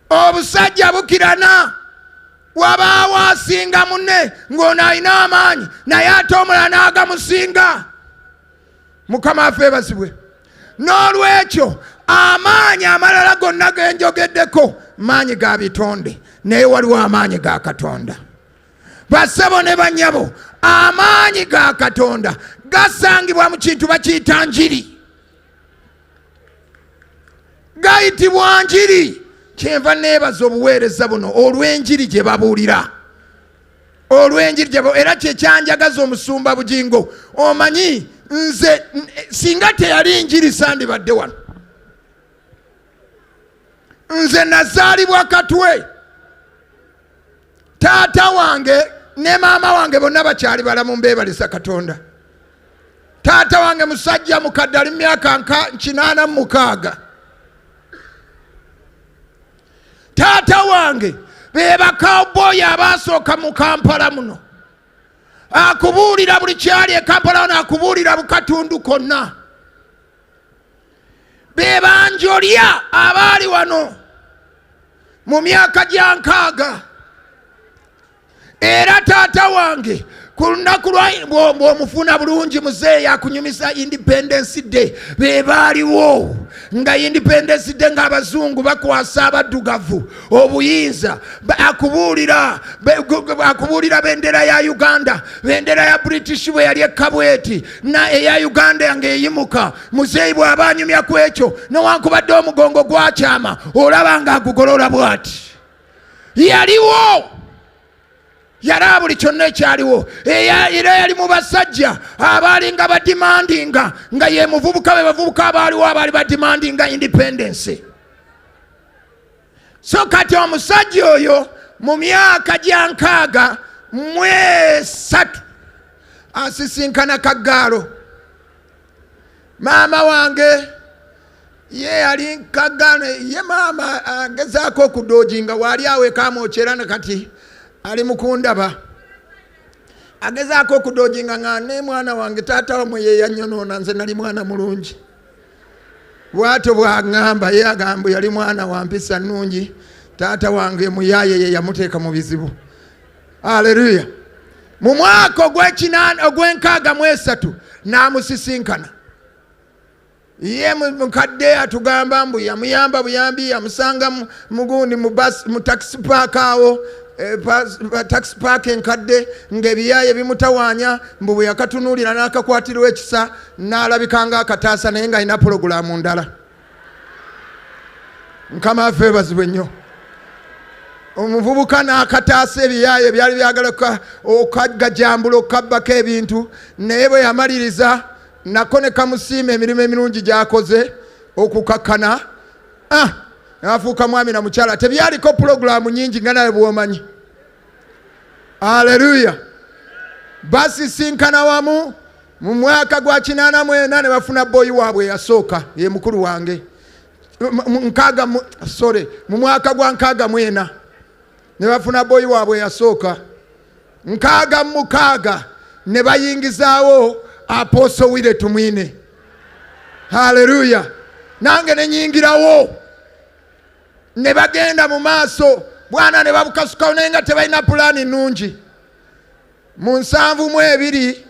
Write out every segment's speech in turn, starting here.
obusajja bukirana wabaawo asinga munne ng'ono alina amaanyi naye ate omulala n'agamusinga mukama afe ebazibwe n'olwekyo amaanyi amalala gonna ge njogeddeko maanyi ga bitonde naye waliwo amaanyi ga katonda basebo ne banyabo amaanyi ga katonda gasangibwa mu kintu bakiyita njiri gayitibwa njiri kyenva neebaza obuweereza buno olw'enjiri gye babuulira olw'enjiri gye era kye kyanjagaza omusumba bugingo omanyi nze singa teyali njiri sandibadde wano nze nazaalibwa katwe taata wange ne maama wange bonna bakyali balamu mbeebalisa katonda taata wange musajja mukadde ali mumyaka nka nkinaana mumukaaga taata wange bebakawboyi abaasooka mu kampala muno akubuulira buli kyali e kampala wano akubuulira bukatundu konna bebanjolya abaali wano mu myaka gya nkaaga era taata wange ku lunaku lwomufuna bulungi muzeeyi yakunyumisa independence day be baaliwo nga independence day ng'abazungu bakwasa abaddugavu obuyinza akubuulira akubuulira bendera ya uganda bendera ya british bwe yali ekkabweti na eya uganda nga eyimuka muzeeyi bw'aba anyumya ku ekyo newankubadde omugongo gwakyama olaba nga agugolola bwati yaliwo yalaba buli kyonna ekyaliwo era yali mu basajja abaalinga badimandinga nga ye muvubuka be bavubuka abaaliwo abaali badimandinga independensi so kati omusajja oyo mu myaka gya nkaaga mwesatu asisinkana kaggaalo maama wange ye yali nkagana ye maama agezaako okudoojinga waali awo ekamwokyera ne kati ali mukundaba agezaako okudoojinga nga ne mwana wange taata wamwe yeyanyonoona nze nali mwana mulungi bwatyo bwagamba ye agambo yali mwana wampisa nungi taata wange muyaye ye yamuteeka mu bizibu aleluya mu mwaka ogwekinaana ogwenkaaga mu esatu n'amusisinkana ye mukadde atugamba mbu yamuyamba buyambi yamusanga mugundi mu takisi paaka awo eh, takisi paaka enkadde ngaebiyaye bimutawaanya mbu bwe yakatunuulira n'akakwatirwa ekisa n'alabika nga akataasa naye ng'alina pulogulaamu ndala mukama affe ebazibwe nnyo omuvubuka n'akataasa ebiyaaye ebyali byagala okagajambula okukabbako ebintu naye bwe yamaliriza nako ne kamusiima emirimu emirungi gyakoze okukakkana ah, n'afuuka mwami na mukyala tebyaliko pulogulaamu nyingi nga nawe bwomanyi aleluya basisinkana wamu mu mwaka gwa kinaana mwena ne bafuna boyi waabwe eyasooka ye mukulu wange nkaaga sore mu mwaka gwa nkaaga mwena ne bafuna boyi waabwe eyasooka nkaaga mu mukaaga ne bayingizaawo aposo wire tumwine haleluya nange nenyingirawo ne bagenda mu maaso bwana ne babukasukawo naye nga tebalina pulaani nnungi mu nsanvu mu ebiri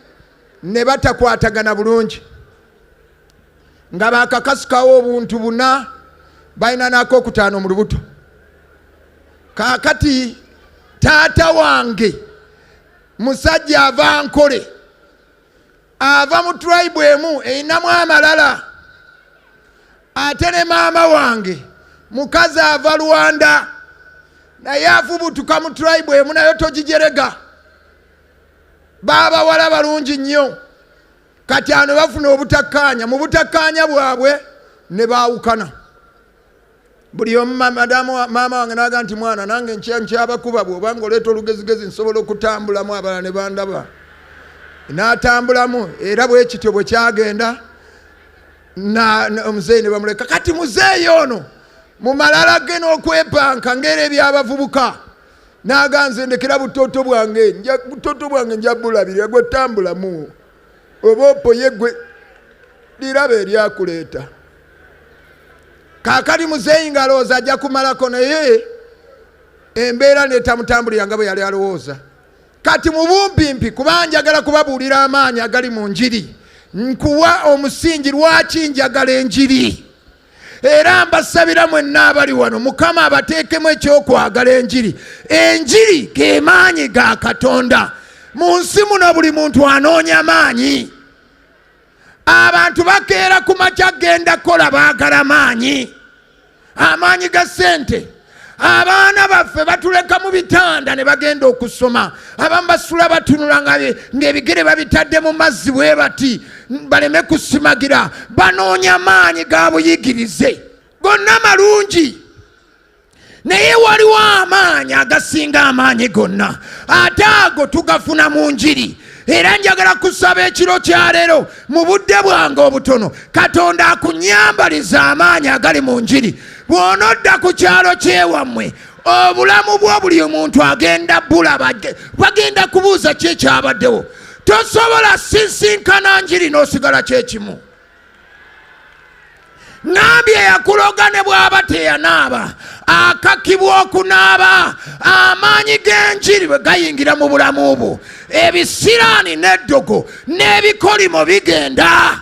ne batakwatagana bulungi nga bakakasukawo obuntu buna balina naako okutaano mu lubuto kaakati taata wange musajja ava nkole ava mu tribe emu erinamu amalala ate ne maama wange mukazi ava rwanda naye afubutuka mu tribe emu nayo togijerega baabawala balungi nnyo kati ano bafuna obutakkaanya mu butakkaanya bwabwe ne baawukana buli omu maama wange naga nti mwana nange nkyabakuba bwoba nga oleeta olugezigezi nsobola okutambulamu abalala ne bandaba n'atambulamu era bwekityo bwe kyagenda omuzeeyi ne bamuleka kati muzeeyi ono mu malala ge n'okwepanka ngaera ebyabavubuka naga nze ndekera butoto bwange butoto bwange nja bulabirira gwetambulamu oba opoye gwe liraba eryakuleeta kakati muzeeyi ngalowooza ajja kumalako naye embeera netamutambulira nga bwe yali alowooza kati mubumpimpi kuba njagala kubabuulira amaanyi agali mu njiri nkuwa omusingi lwaki njagala enjiri era mbasabira mwenna abali wano mukama abateekemu ekyokwagala enjiri enjiri ge maanyi ga katonda mu nsi muno buli muntu anoonya maanyi abantu bakeera ku makya genda kukola baagala maanyi amaanyi ga ssente abaana baffe batuleka mu bitanda ne bagenda okusoma abamu basula batunula ng'ebigere babitadde mu mazzi bwe bati baleme kusimagira banoonya maanyi ga buyigirize gonna malungi naye waliwo amaanyi agasinga amaanyi gonna ate ago tugafuna mu njiri era njagala kusaba ekiro kya leero mu budde bwange obutono katonda akunyambaliza amaanyi agali mu njiri bw'onodda ku kyalo kyewammwe obulamu bwo buli omuntu agenda bulaba bagenda kubuuza ki ekyabaddewo tosobola sisinkana njiri n'osigala kyekimu nambi eyakuloga ne bw'aba teyanaaba akakibwa okunaaba amaanyi g'enjiri bwe gayingira mu bulamu bwo ebisiraani n'eddogo n'ebikolimo bigenda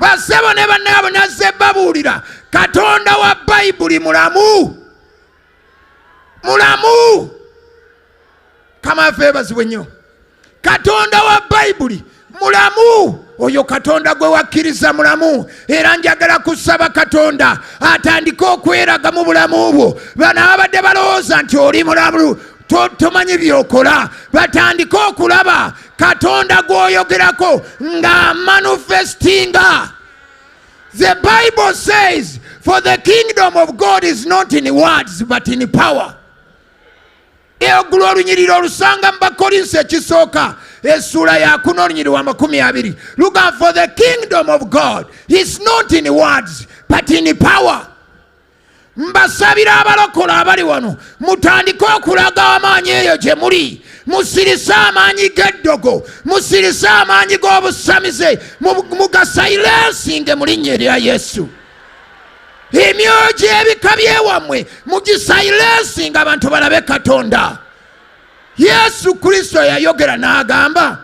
basebo ne bannaabo nazze babuulira katonda wa bayibuli mulamu mulamu kama ffe bazibwe nnyo katonda wa bayibuli mulamu oyo katonda gwe wakkiriza mulamu era njagala kusaba katonda atandike okweraga mu bulamu bwo bano ababadde balowooza nti oli mulamu tomanyi byokola batandike okulaba katonda gwoyogerako nga manifestinga the bible says for the kingdom of god is not in words but in power Ogula olunyiriri olusanga mu Bakolinsi ekisooka essuula ya kuna olunyiriri wa makumi abiri luga for the kingdom of God is not in words but in power mbasabira abalokola abali wano mutandike okulaga amaanyi eyo gye muli musirise amaanyi g'eddogo musirise amaanyi g'obusamize mugasayilensinge mu linnya erya yesu emyoyo gy'ebika byewammwe mugisayilensinga abantu balabe katonda yesu kristo yayogera n'agamba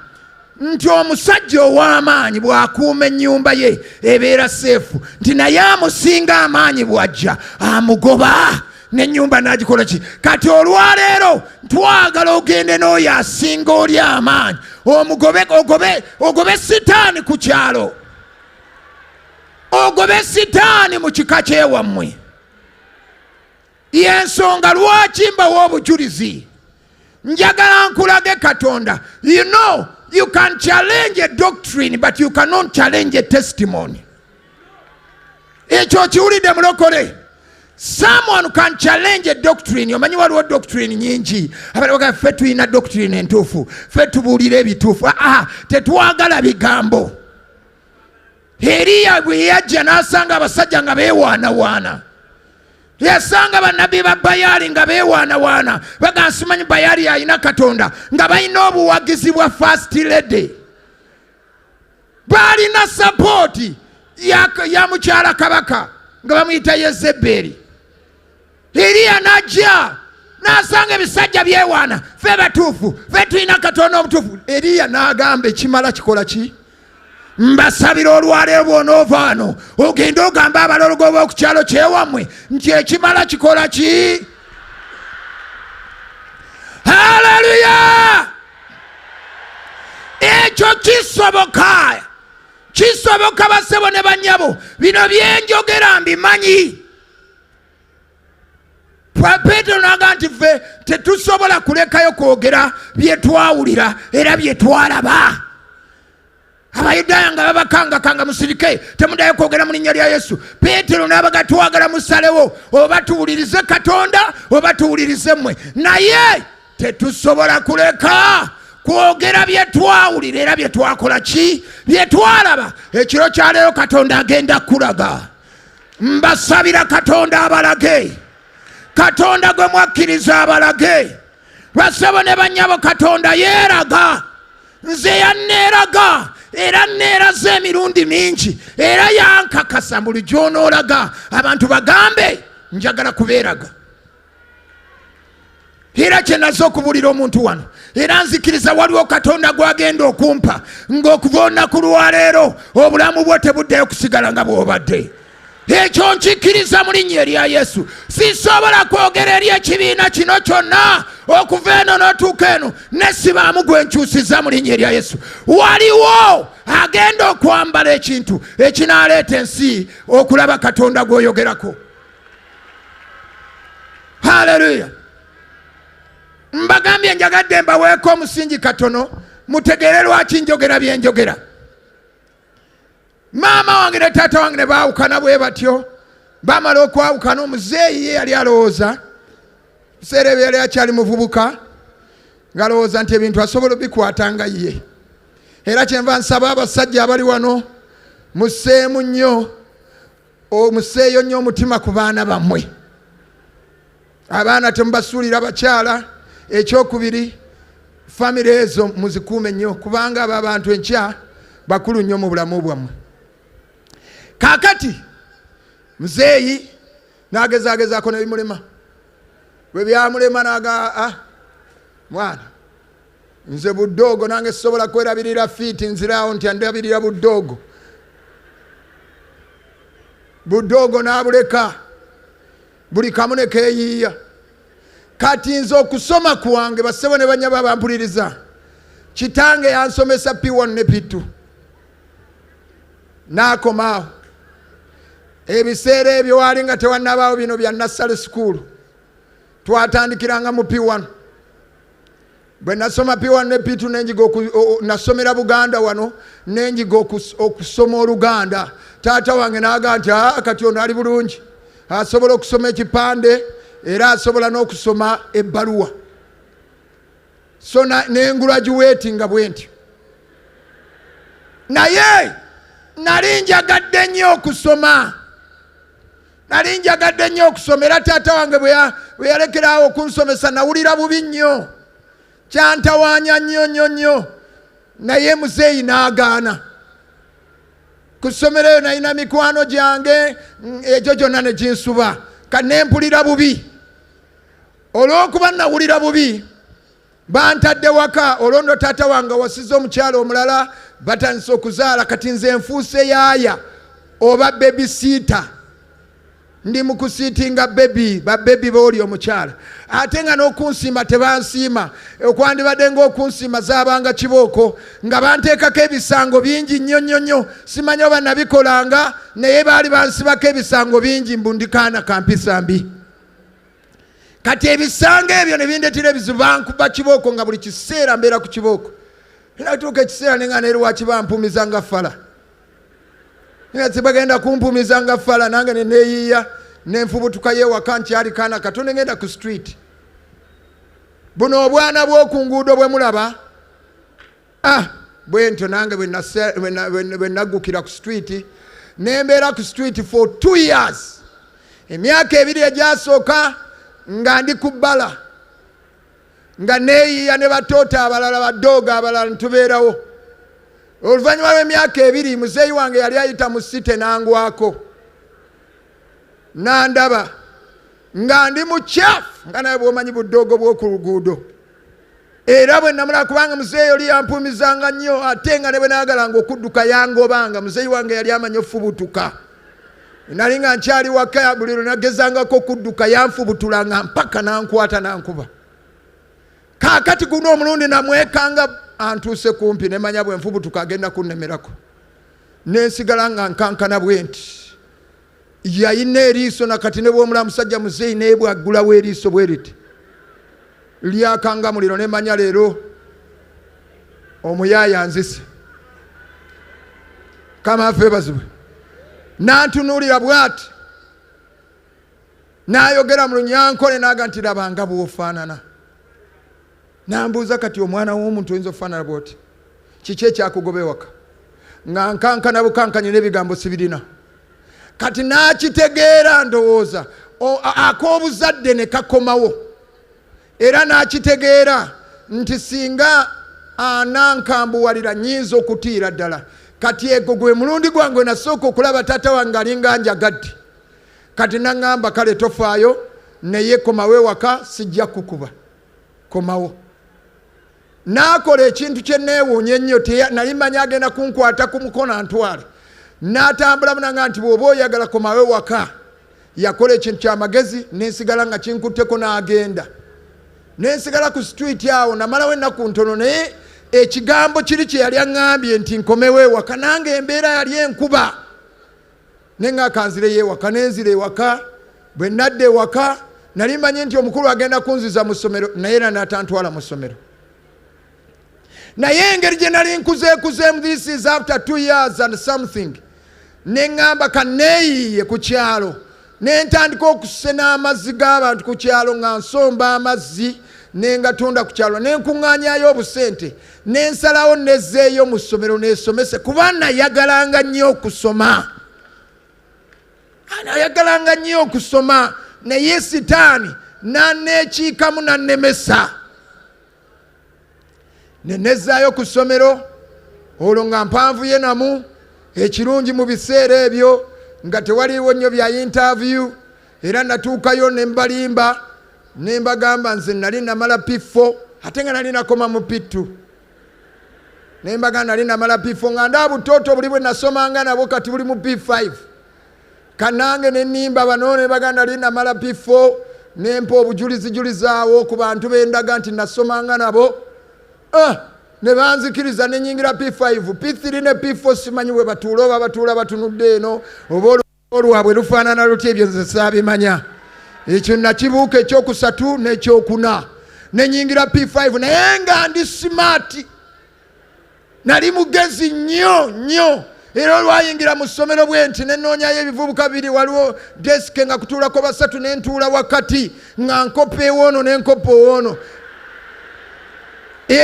nti omusajja ow'amaanyi bw'akuuma ennyumba ye ebeera seefu nti naye amusinga amaanyi bw'ajja amugoba n'ennyumba n'agikola ki kati olwaleero twagala ogende n'oyo asinga oli amaanyi omugobe ogobe ogobe sitaani ku kyalo ogobe sitaani mu kika kyewammwe yensonga lwaki mbawa obujulizi njagala nkulage katonda you know you can challenge a doctrine but you cannot challenge a testimony ekyo okiwulidde mulokole someone can challenge a doctrine omanyi waliwo doctrine nyingi abalaga ffe tulina doctrine entuufu ffe tubuulira ebituufu aa ah, ah, tetwagala bigambo Eriya bwe yajja n'asanga abasajja nga beewaanawaana yasanga bannabbi ba bayaali nga beewaanawaana baga nsimanyi bayaali alina katonda nga balina obuwagizi bwa fast lady baalina sapooti ya mukyala kabaka nga bamuyita yezebeeri Iriya n'ajja n'asanga ebisajja byewaana fe batuufu fe tulina katonda omutuufu eriya n'agamba ekimala kikola ki mbasabira olwaleero bwonoovaano ogende ogamba abalologo b'oku kyalo kyewammwe nti ekimala kikola ki haleluya ekyo kisoboka kisoboka basebo ne banyabo bino byenjogera mbimanyi peetero n'aga nti ffe tetusobola kulekayo kwogera bye twawulira era bye twalaba abayudaaya nga babakangakanga musirike temudayo kwogera mu linnya lya yesu peetero n'abaga twagala musalewo oba tuwulirize katonda oba tuwulirize mmwe naye tetusobola kuleka kwogera bye twawulira era bye twakola ki bye twalaba ekiro kyaleero katonda agenda kukulaga mbasabira katonda abalage katonda gwe mwakkiriza abalage lwasebo ne banyabo katonda yeeraga nze yanneeraga era neeraza emirundi mingi era yankakasa buli gyonoolaga abantu bagambe njagala kubeeraga era kyenaze okubuulira omuntu wano era nzikiriza waliwo katonda gwagenda okumpa ng'okuva olunaku lwaleero obulamu bwo tebuddeyo kusigala nga bw'obadde ekyo nkikkiriza mu linnya erya yesu sisobola kwogera eri ekibiina kino kyonna okuva eno n'otuuka eno nesibaamu gwe nkyusiza mu linnya erya yesu waliwo agenda okwambala ekintu ekinaleeta ensi okulaba katonda gw'oyogerako Haleluya! Mbagambye njagadde mbaweeko omusingi katono mutegeere lwaki njogera bye njogera. Maama wange ne taata wange ne baawukana bwe batyo, baamala okwawukana omuzeeyi ye yali alowooza biseera ebyo yali akyali muvubuka ng'alowooza nti ebintu asobola obikwata nga ye era kyenva nsaba abasajja abali wano museemu nnyo omuseeyo nnyo omutima ku baana bammwe abaana temubasuulira bakyala ekyokubiri famire ezo muzikuume nnyo kubanga abo abantu enkya bakulu nnyo mu bulamu bwammwe kakati muzeeyi nagezagezaako nebimulema bwe byamulema naga ah, mwana nze budoogo nange sisobola kwerabirira fiiti nziraawo nti andabirira budoogo budoogo n'abuleka buli kamu ne keeyiiya kati nze okusoma kwange bassebo ne banyaba bampuliriza kitange yansomesa p1 ne p2 n'akomaawo ebiseera ebyo waali nga tewannabaawo bino bya nassale sukuulu twatandikiranga mu p1 bwe nasoma piwa ne pitu nenjiga nasomera buganda wano nenjiga okusoma oluganda taata wange naga nti ah, kati ono ali bulungi asobola okusoma ekipande era asobola n'okusoma ebbaluwa so nengurajuweti nga bwe ntyo naye nali njagadde nnyo okusoma nali njagadde nnyo okusoma era taata wange bwe yalekeraawo okunsomesa nawulira bubi nnyo kyantawaanya nnyo nnyo nnyo naye muzeeyi n'agaana ku ssomero eyo nalina mikwano gyange mm, egyo gyonna ne ginsuba kati ne mpulira bubi olw'okuba nawulira bubi bantadde waka olwono taata wange wasiza omukyalo omulala batandise okuzaala kati nze nfuuse yaaya oba bebi siita ndi mukusiitinga bebi babebi booli omukyala ate nga n'okunsiima tebansiima okwandibadde ngaokunsiima zabanga kibooko nga banteekako ebisango bingi nnyo nnyo nnyo simanya oba nabikolanga naye baali bansibako ebisango bingi mbundikaana kampisa mbi kati ebisanga ebyo ne bindetera ebizibu bankuba kibooko nga buli kiseera mbeera ku kibooko natuuka ekiseera nenga neri wakiba mpumiza nga fala bagenda kumpumiza nga fala nange neneyiiya nenfubutuka yewaka nkyali kaana kato nengenda ku street buno obwana bwoku nguudo bwe mulaba ah bwentyo nange bwe naggukira ku street nembeera ku street for two years emyaka ebiri egyasooka nga ndi ku bbala nga neeyiya ne batoota abalala badooga abalala nitubeerawo oluvannyuma lw'emyaka ebiri muzeeyi wange yali ayita mu site nangwako nandaba nga ndi mukyafu nga naye bwomanyi budoogo bw'oku luguudo era bwe namulaba kubanga muzeeyi oli yampuumizanga nnyo ate nga ne bwe naagalanga okudduka yangobanga muzeeyi wange yali amanyi ofubutuka nali nga nkyali waka buli lwe nagezangako okudduka yanfubutulanga mpaka nankwata nankuba kaakati guno omulundi namwekanga antuuse kumpi nemanya bwe nfubutuka agenda kunnemerako nensigala nga nkankana bwe nti yalina eriiso nakati ne bwomula musajja muzeeyi naye bwaggulawo eriiso bwe riti lyakangamuliro ne manya leero omuyaaya nzise kama afe bazibwe nantunuulira bwati n'ayogera mu lunyankole naga nti labanga bwofaanana Nambuuza kati omwana w'omuntu oyinza okufaanana bw'oti kiki ekyakugoba ewaka nga nkankana bukankanye n'ebigambo sibirina kati n'akitegeera ndowooza ak'obuzadde ne kakomawo era n'akitegeera nti singa anankambuwalira nyinza okutiira ddala kati ego gwe mulundi gwange nasooka okulaba taata wange alinga njagadde kati naŋŋamba kale tofaayo naye komawo ewaka sijja kukuba komawo n'akola ekintu kye neewuunya ennyo nali manyi agenda kunkwata ku mukono antwale n'atambula munanga nti bw'oba oyagala komawe waka yakola ekintu kyamagezi nensigala nga kinkutteko n'agenda nensigala ku situiti awo namalawo ennaku ntono naye ekigambo kiri kye yali aŋŋambye nti nkomewo ewaka nange embeera yali enkuba ne nga akanzireyo ewaka nenzira ewaka bwe nadda ewaka nali mmanyi nti omukulu agenda kunziza mu ssomero naye era natantwala mu ssomero naye engeri gye nali nkuzeekuzeemu this is after two years and something ne ŋŋamba kanneeyiiye ku kyalo ne ntandika okusena amazzi g'abantu ku kyalo nga nsomba amazzi ne ngatunda ku kyalo ne nkuŋŋaanyayo obusente ne nsalawo nezzeeyo mu ssomero nesomese kuba nayagalanga nnyo okusoma nayagalanga nnyo okusoma naye sitaani naneekiikamu nannemesa ne nezzaayo ku ssomero olwo nga mpanvu ye namu ekirungi mu biseera ebyo nga tewaliiwo nnyo bya yintaaviyu era natuukayo ne mbalimba ne mbagamba nze nali namala piffo ate nga nali nakoma mu pittu ne mbagamba nali namala piffo nga ndaabuttooto buli bwe nasomanga nabo kati buli mu p5 kanange nenimba bano ne baganda li namala bifo nempa obujulizijulizaawo ku bantu bendaga nti nasomanga nabo ah, ne banzikiriza nenyingira p5 p3 ne p4 simanyi bwe batuula oba batuula batunudde eno oba olwabwe lufaanana luti ebyo nze saabimanya ekyo nakibuuka ekyokusatu n'ekyokuna nenyingira p5 naye nga ndi simaati nali mugezi nnyo nnyo era olwayingira mu ssomero bwe nti nenoonyayo ebivubuka biri waliwo desike nga kutuulako basatu ne ntuula wakati nga nkoppa ewoono ne nkoppa owoono e,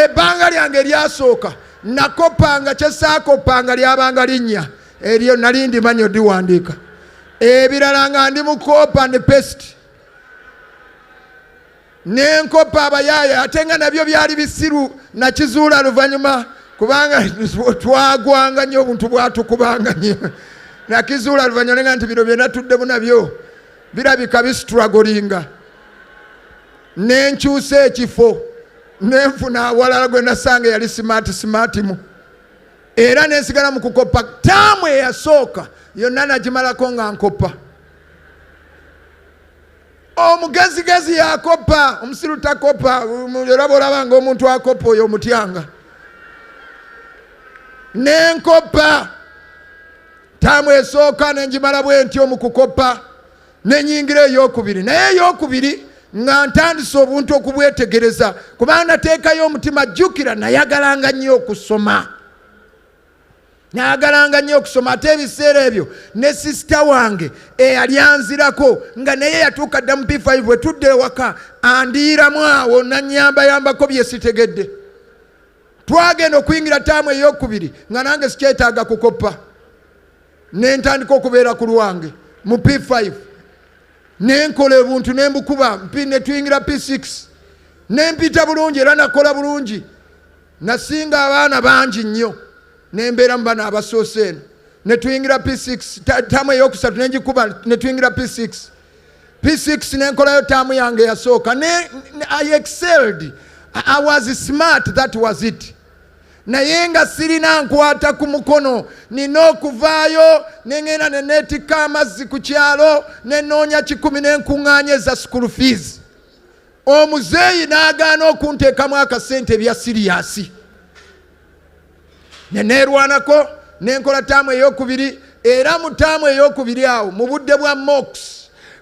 ebbanga lyange eryasooka nakoppanga kyesaakoppanga lyabanga linnya eryo nali ndimanyi odiwandiika ebirala nga ndi mu kopa ne pesiti nenkoppa abayaaye ate nga nabyo byali bisiru nakizuula luvanyuma kubanga twagwanga nyo obuntu bwatukubanga nyo nakizuula luvanyuma nenga nti bino byenatuddemu nabyo birabika bisitragolinga nenkyusa ekifo nenfuna awalala gwe nasanga yali simaati simaatimu era nensigala mu kukoppa taamu eyasooka yonna nagimalako nga nkoppa omugezigezi yakopa omusiru takopa olaba olaba nga omuntu akopa oyo omutyanga nenkopa taamu esooka nenjimala bwentyo mu kukopa nenyingira eyokubiri naye eyokubiri nga ntandise obuntu okubwetegereza kubanga nateekayo omutima jjukira nayagalanga nnyo okusoma nayagalanga nnyo okusoma ate ebiseera ebyo ne sisita wange eyali anzirako nga naye yatuuka dda mu p5 bwe tudde ewaka andiiramu awo nanyambayambako bye sitegedde twagenda okuyingira taamu eyokubiri nga nange sikyetaaga kukoppa nentandika okubeera ku lwange mu p5 nenkola ebuntu nembukuba netuyingira p6 nempita bulungi era nakola bulungi Nasinga abaana bangi nnyo ne mbeera mu bana abasoose eno ne tuyingira P6 taamu ey'okusatu ne ngikuba ne tuyingira P6 P6 ne nkolayo taamu yange yasooka ne I excelled I was smart that was it naye nga sirina nkwata ku mukono nina okuvaayo nengenda neneetikka amazzi ku kyalo nenoonya kikumi nenkuŋŋaanya eza sukulu fees omuzeeyi n'agaana okunteekamu akasente ebya siriyasi ne neerwanako nenkola taamu eyokubiri era mu taamu eyokubiri awo mu budde bwa mox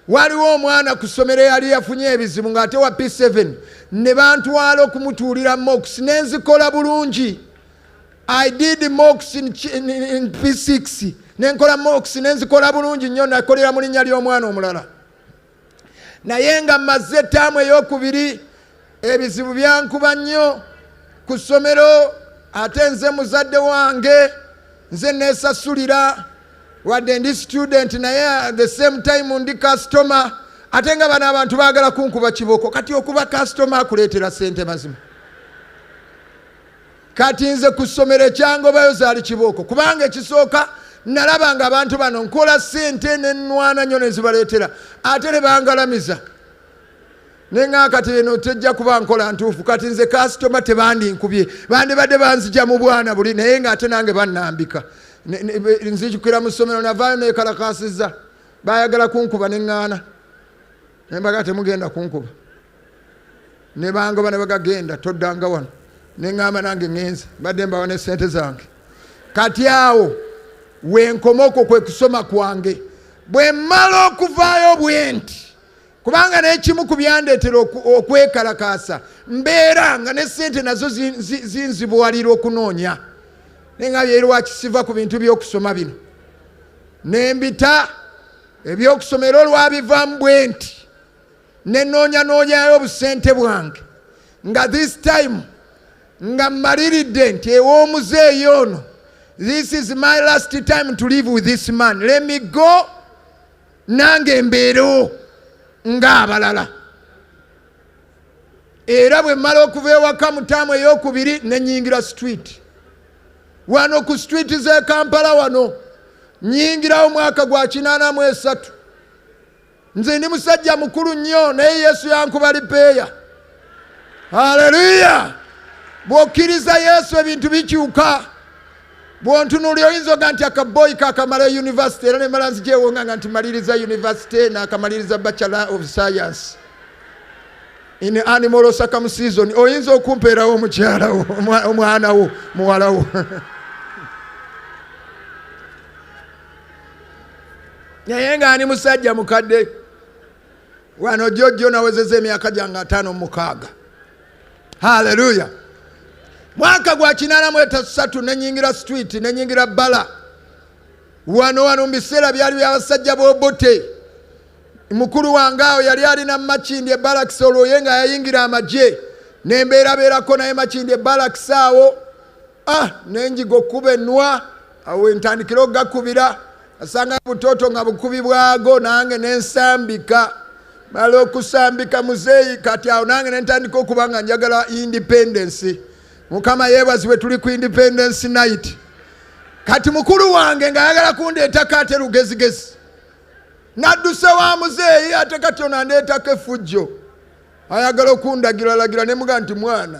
waliwo omwana ku ssomero eyali yafunye ebizibu ng'ate wa p7 ne bantwala okumutuulira mox ne nzikola bulungi i did mox in, in, in p6 nenkola mox ne nzikola bulungi nnyo nakolera mu linnya ly'omwana omulala naye nga mazze ettaamu eyokubiri ebizibu byankuba nnyo ku ssomero ate nze muzadde wange nze neesasulira wadde ndi student naye the same time ndi customer ate nga bano abantu baagala kunkuba kibooko kati okuba customer akuleetera sente mazima kati nze ku ssomero ekyangobayo zaali kibooko kubanga ekisooka nalaba nga abantu bano nkola sente nenwana nyo nezibaleetera ate nebangalamiza naye nga kati eno tejja kuba nkola ntuufu kati nze kasitoma tebandinkubye bandibadde banzija mu bwana buli naye nga ate nange bannambika nzijukira mu ssomero navaayo nekalakasiza bayagala kunkuba neŋŋaana nembaga temugenda kunkuba ne bangoba ne bagagenda toddanga wano ne ŋŋamba nange ŋenze mbadde mbawa ne ssente zange kati awo wenkoma okwo kwe kusoma kwange bwe mmala okuvaayo bwenti kubanga n'ekimu ku byandeetera okwekalakaasa mbeera nga ne ssente nazo zinzibuwalira okunoonya naye nga byerwakisiva ku bintu by'okusoma bino nembita ebyokusoma era olwabivaamu bwenti ne noonya noonyayo obusente bwange nga this time nga mmaliridde nti ew'omuzeeyi ono this is my last time to live with this man let me go nange mbeerewo ng'abalala era bwe mmala okuva ewaka mutaamu ey'okubiri ne nyingira street wano ku street z'e kampala wano nyingirawo mwaka gwa kinaana mu esatu nze ndi musajja mukulu nnyo naye yesu yankuba lipeeya haleluya bw'okkiriza yesu ebintu bikyuka bwontunuli oyinza oga nti akaboyi kakamala univesity era nemala nzigyewonga nga nti maliriza univesity nakamaliriza bachelor of science in animal osakam season oyinza okumpeerawo omukyalawo omwanawo muwalawo naye nga ani musajja mukadde wano jojjo nawezeza emyaka gyange ataano mukaaga haleluya mwaka gwa kinana mu etasatu nenyingira street nenyingira bala wano wano mu biseera byali byabasajja bobote mukulu wange awo yali alina makindi ebalakisi olwoye nga yayingira amagye nembeerabeerako naye makindi ebalakisi awo ah nenjiga okukuba enwa awo entandikira okugakubira asanga butooto nga bukubi bwago nange nensambika mala okusambika muzeeyi kati awo nange nentandika okuba nga njagala independensi mukama yebazibwe tuli ku independensi night kati mukulu wange nga ayagala kundeetako ate lugezigezi nadduse wa muzeeyi ate kati onandeetako efujjo ayagala okundagiralagira nemuga nti mwana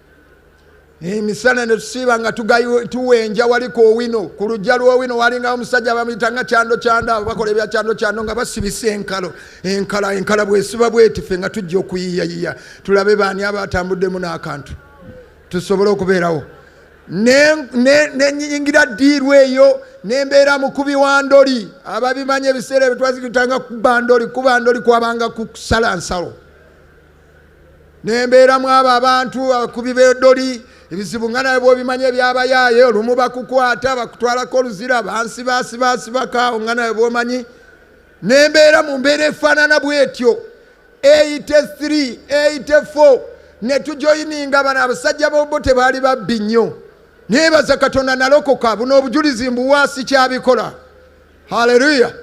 emisana netusiiba nga tuwenja wali ku owino ku lujja lwowino walingawo omusajja bamuyita nga kyando kyando abo bakola ebya kyando kyando nga basibisa enkalo enkala enkala bwesiba bwetife nga tujja okuyiyayiya tulabe baani abatambuddemu n'akantu tusobole okubeerawo nenyingira diirwa eyo nembeera mukubi wa ndoli ababimanyi ebiseera ebitwazikitanga kubandoli kubandoli kwabanga kusala nsalo nembeera mu abo abantu abakubi bedoli ebizibu nga naye bwobimanya ebyabayaaye olumu bakukwata bakutwalako oluzira bansi basibasibakaawo nga naye bwomanyi nembeera mu mbeera efaanana bwetyo 83 84 netujoyininga bano abasajja bobo tebaali babbi nnyo nebaza katonda nalokoka buno obujulizi mbuwaasi kyabikola haleluya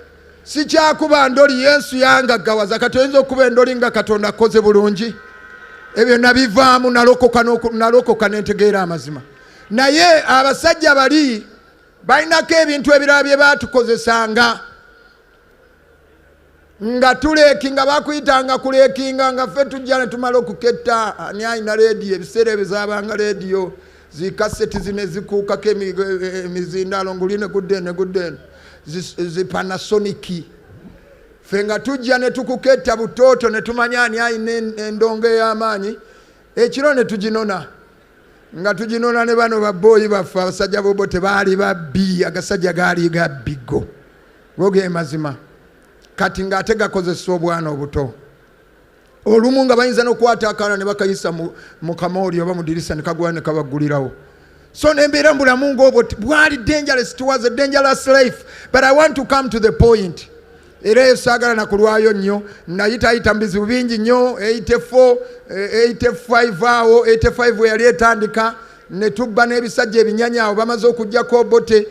sikyakuba ndoli yesu yangaggawaza kati oyinza okuba endoli nga katonda akoze bulungi ebyo nabivaamu nalokoka nentegeera amazima naye abasajja bali balinako ebintu ebirala bye batukozesanga nga tulekinga bakuyitanga kulekinga nga ffe tujja ne tumala okuketta ani alina leediyo ebiseera ebyo zabanga leediyo zikaseti zine zikuukako emizindaalo nguli ne gudde ne gudde zipanasoniki ffe nga tujja ne tukuketta butooto ne tumanya ani alina endongo ey'amaanyi ekiro ne tuginona nga tuginona ne bano babbooyi baffe abasajja bobo tebaali babbi agasajja gaali gabbigo Go ge mazima kati ng'ate gakozesa obwana obuto olumu nga bayinza n'okwata akaana ne bakayisa mu kamooli oba mu dirisa ne kagula ne kabaggulirawo so nembeera mu bulamu ng'obwo bwali dangerous it was a dangerous life but i want to come to the point era eyo saagala na kulwayo nnyo nayitayita mu bizibu bingi nnyo 84 85 eh, awo 85 we yali etandika ne tubba n'ebisajja ebinyanya awo bamaze okujjako obote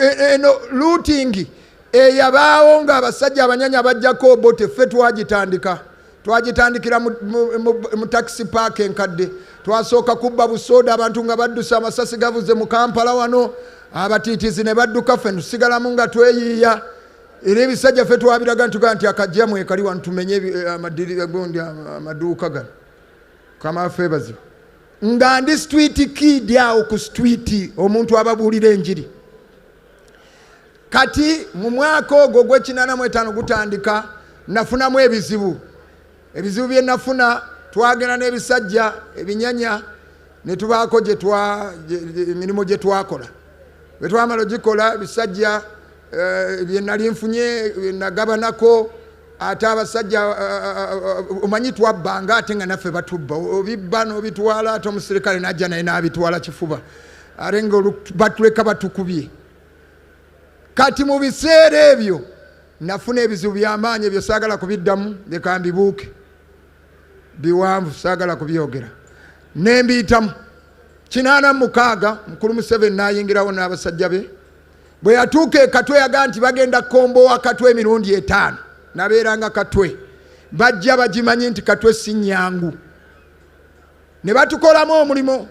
e, eno luutingi eyabaawo ng'abasajja abanyanya bajjako obote ffe twagitandika twagitandikira mu takisi paaka enkadde twasooka kubba busooda abantu nga baddusa amasasi gavuze mu kampala wano abatiitizi ne badduka ffe netusigalamu nga tweyiiya era ebisajja ffe twabiraga ntuga nti akajja mwekali wano tumenye eh, amadirira gondi amaduuka gano kama ffe bazibu nga ndi street kid awo ku street omuntu ababuulira enjiri kati mu mwaka ogwo gwekinana mu etaano gutandika nafunamu ebizibu ebizibu bye nafuna twagenda n'ebisajja ebinyanya ne tubaako emirimu gye twakola bwe twamala ogikola ebisajja eh, bye nali nfunye nagabanako ate abasajja omanyi twabba nga ate nga naffe batubba obibba nobitwala ate omusirikale najja naye nabitwala kifuba ate nga batuleka batukubye kati mu biseera ebyo nafuna ebizibu byamaanyi ebyo saagala kubiddamu leka mbibuuke biwanvu saagala kubyogera nembiyitamu kinaana mukaaga mukulu museveni nayingirawo n'abasajja be Bwe yatuuka e Katwe yagaa nti bagenda kukombowa Katwe emirundi etaano. Nabeeranga Katwe. Bajja bagimanyi nti Katwe si nnyangu. Ne batukolamu omulimu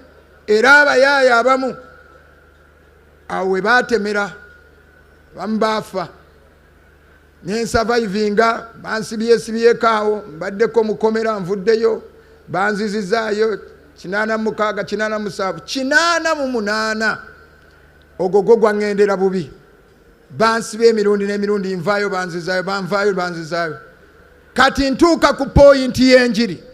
era abayaaya abamu awo we baatemera bamu baafa nensavaivinga bansibyesibyeko awo mbaddeko mukomera nvuddeyo banzizizaayo kinaana mukaaga kinaana musanvu kinaana mu munaana Ogwo gwo gwaŋŋendera bubi. Bansiba emirundi n'emirundi, nvaayo banzizaayo, banvaayo banzizaayo. Kati ntuuka ku pooyinti y'enjiri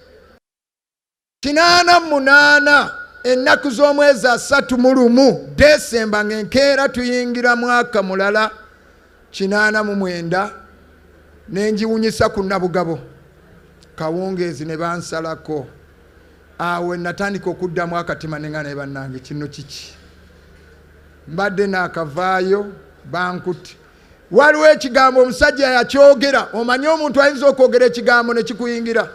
kinaana mu munaana ennaku z'omwezi asatu mu lumu desemba ng'enkeera tuyingira mwaka mulala kinaana mu mwenda ne ngiwunyisa ku nabugabo kawungeezi ne bansalako Awo we natandika okuddamu akatima ne nga naye bannange kino kiki? Mbadde naakavaayo bankutte. Waliwo ekigambo omusajja yakyogera, omanyi omuntu ayinza okwogera ekigambo ne kikuyingira.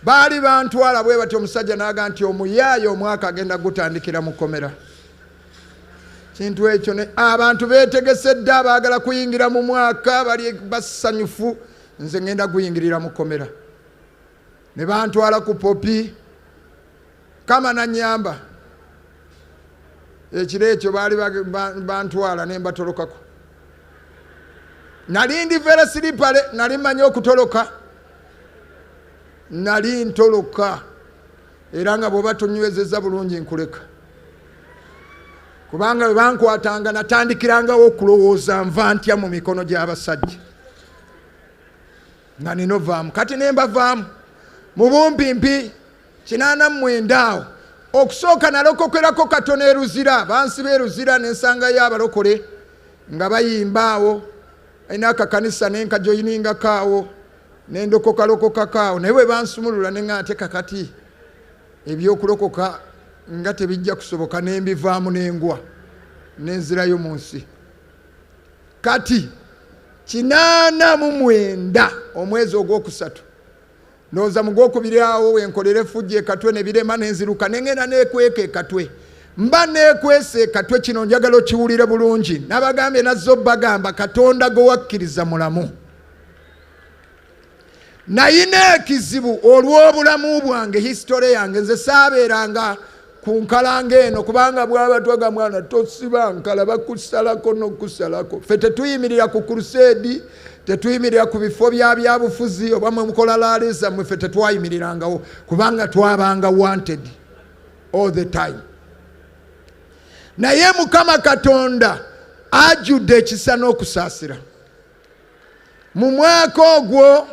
Baali bantwala bwe batyo, omusajja naaga nti omuyaaye omwaka agenda gutandikira mu kkomera. Kintu ekyo ne abantu beetegese dda, baagala kuyingira mu mwaka, bali basanyufu, nze ngenda guyingirira mu kkomera. ne bantwala ku popi kama nanyamba ekiro ekyo baali bantwala ne mbatolokako nali ndi vera siripale nali manyi okutoloka nali ntoloka era nga bwoba tonywezeza bulungi nkuleka kubanga bwe bankwatanga natandikirangawo okulowooza nva ntya mu mikono gy'abasajja nga nina ovaamu kati nembavaamu mubumpimpi kinaana mumwenda awo okusooka nalokokerako katono eruzira bansi beruzira nensangayo abalokole nga bayimba awo alina akakanisa nenkajoyiningako awo nendokokalokokako awo naye webansumulula nea ate kakati ebyokulokoka nga tebijja kusoboka nembivaamu nengwa nenzirayo mu nsi kati kinaana mu mwenda omwezi ogwokusatu noza mugwokubiri awo wenkolera efujja ekatwe nebirema nenziruka nengenda nekweka ekatwe mba nekwesa ekatwe kino njagala okiwulire bulungi nabagambye nazze obagamba katonda gwewakkiriza mulamu nayina ekizibu olw'obulamu bwange hisitole yange nze saabeeranga ku nkalanga eno kubanga bwabatwaga mwana tosiba nkala bakusalako nokusalako fe tetuyimirira ku kuruseedi tetuyimirira ku bifo bya byabufuzi oba mwe mukola laaleza mwe fe tetwayimirirangao kubanga twabanga wanted all the time naye mukama katonda ajudde ekisa n'okusaasira mu mwaka ogwo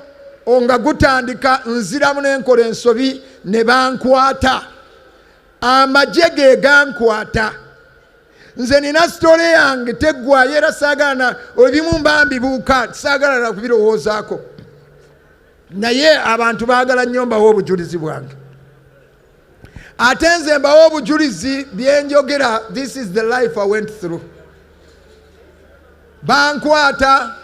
nga gutandika nziramu nenkola ensobi ne bankwata amagye ge gankwata nze nina sitole yange teggwayo era saagala ebimu mbambi buuka saagala na kubirowoozaako naye abantu baagala nnyo mbawo obujulizi bwange ate nze mbawo obujulizi byenjogera this is the life i went through bankwata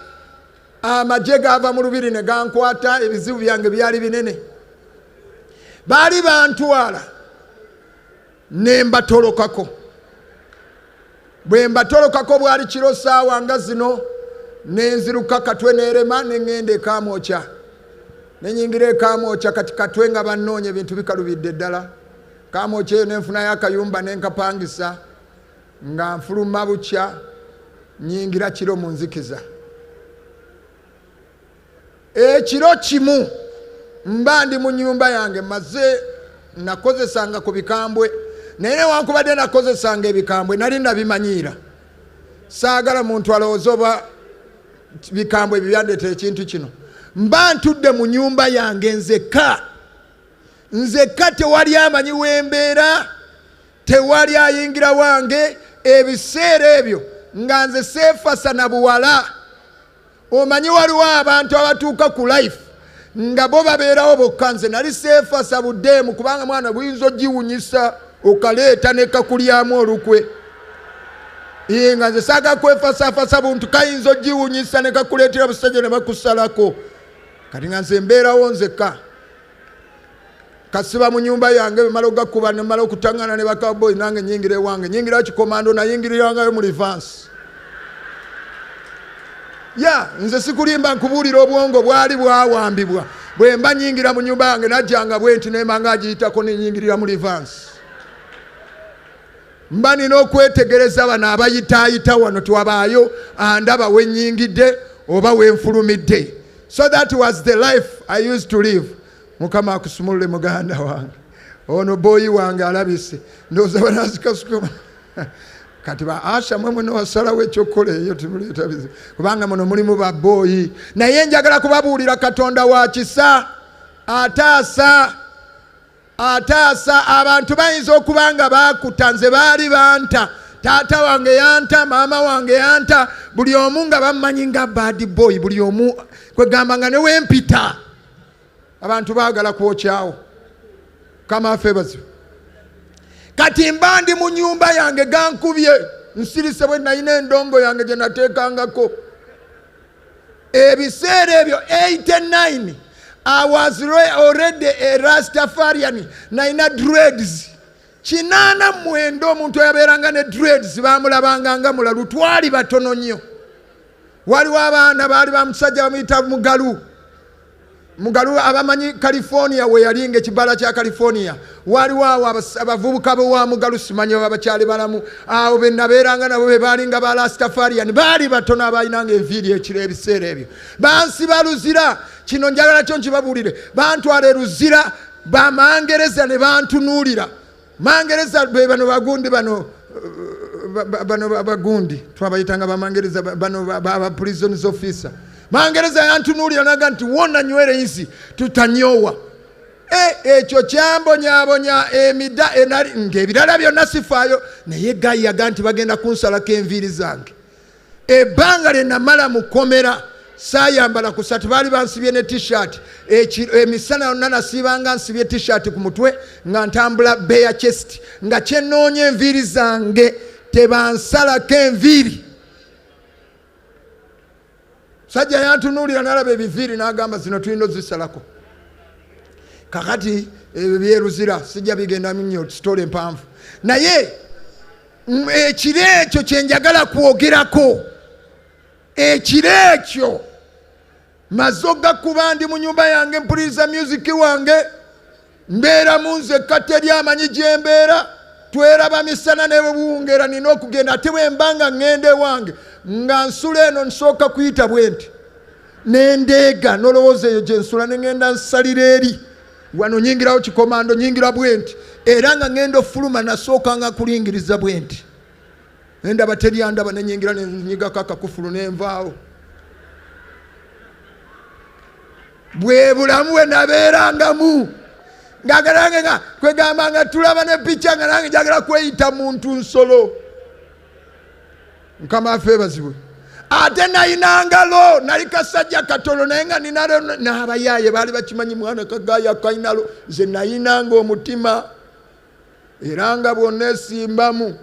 amagye gava mu lubiri ne gankwata ebizibu byange byali binene baali bantwala ne mbatolokako bwe mbatolokako bwali kiro saawa nga zino nenziruka katwe nerema neŋŋenda ekamwokya nenyingira ekamwokya kati katwe nga bannoonya ebintu bikalubidde ddala kamwokya eyo nenfunayo akayumba nenkapangisa nga nfuluma bukya nyingira kiro mu nzikiza ekiro kimu mba ndi mu nyumba yange maze nakozesanga ku bikambwe naye newankubadde nakozesanga ebikambwe nali nabimanyiira saagala muntu alowooza oba bikambwe ebyo byandeta ekintu kino mba ntudde mu nyumba yange nzekka nzekka tewali amanyi wembeera tewali ayingira wange ebiseera ebyo nga nze seefasa na buwala omanyi waliwo abantu abatuuka ku life nga bo babeerawo bokka nze nali seefasa buddeemu kubanga mwana buyinza ogiwunyisa okaleeta nekakulyamu olukwe ye nga nze saaga kwefasafasa buntu kayinza ogiwunyisa nekakuleetera busajja ne bakusalako kati nga nze mbeerawo nzekka kasiba mu nyumba yange bemala okugakuba nemala okutangana ne bakaboyi nange nyingira ewange nyingira kikomando nayingirirangayo mu livansi ya nze sikulimba nkubuulira obwongo bwali bwawambibwa bwe mba nyingira mu nyumba yange najjanga bwenti nemanga agiyitako nenyingirira mu livansi mba nina okwetegereza bano abayitaayita wano twabaayo andaba wenyingidde oba wenfulumidde so that was the life i used to live mukama akusumulule muganda wange ono boyi wange alabise ndoza banazikasukuma kati ba asha mwe mwene wasalawo ekyokukola eyo timuleeta bizibu kubanga muno mulimu ba boyi naye njagala kubabuulira katonda wa kisa ataasa ataasa abantu bayinza okuba nga baakuta nze baali banta taata wange yanta maama wange yanta buli omu nga bammanyi nga bad boy buli omu kwegamba nga newempita abantu baagala kwokyawo kama afeebazibu kati mba ndi mu nyumba yange gankubye nsirise bwe nalina endongo yange gye nateekangako ebiseera ebyo 89 i was already a rastafarian nalina dreads kinaana mwenda omuntu eyabeeranga ne dreads baamulabanga nga mulalu twali batono nnyo waliwo abaana baali ba musajja bamuyita mugalu mugalu abamanyi california weyali nga ekibala kya california waliwo awo abavubuka bewa mugalu simanyi baba bakyali balamu awo benabeeranga nabo bebalinga ba lastafarian baali batono abalinanga enviiri ekiro ebiseera ebyo bansi baluzira kino njagala kyo nkibabuulire bantwala eruzira bamangereza ne bantunuulira mangereza be bano bagundi bano bano abagundi twabayitanga bamangereza bano ba prisons officer mangereza yantunuulira naga nti wona nywere nsi tutanyowa e, ekyo kyambonyabonya emida enali ngaebirala byonna sifaayo naye gayi yaga nti bagenda kunsalako enviiri zange ebbanga lye namala mu kkomera saayambala kusati baali bansibye ne tishat emisana yonna nasiibanga nsibye tishat ku mutwe nga ntambula beya chest nga kyenoonya enviiri zange tebansalako enviiri sajja yantunuulira nalaba ebiviiri n'agamba zino tulina ozisalako kakati ebyo byeruzira sijja bigendamu nnyo sitole empanvu naye ekiro ekyo kyenjagala kwogerako ekiro ekyo maze ogakuba ndi mu nyumba yange mpuliriza myuziki wange mbeera mu nze ekkata eri amanyi gyembeera tweraba misana nebuwungera nina okugenda ate bwembanga ŋŋenda ewange nga nsula eno nsooka kuyita bwenti nendeega nolowooza eyo gyensula neŋenda nsalira eri wano nyingirawo kikomando nyingira bwenti era nga ngenda ofuluma nasooka nga kulingiriza bwenti endaba teryandaba nenyingira nenyigako akakufulu nenvaawo bwe bulamu bwe nabeerangamu ngagalange nga kwegamba nga tulaba ne picha nga nange jagala kweyita muntu nsolo mukama afe ebazibwe ate nalina ngalo nali kasajja katono naye nga ninalo nabayaaye baali bakimanyi mwana kagaya kainalo nze nayinanga omutima era nga bwonna esimbamu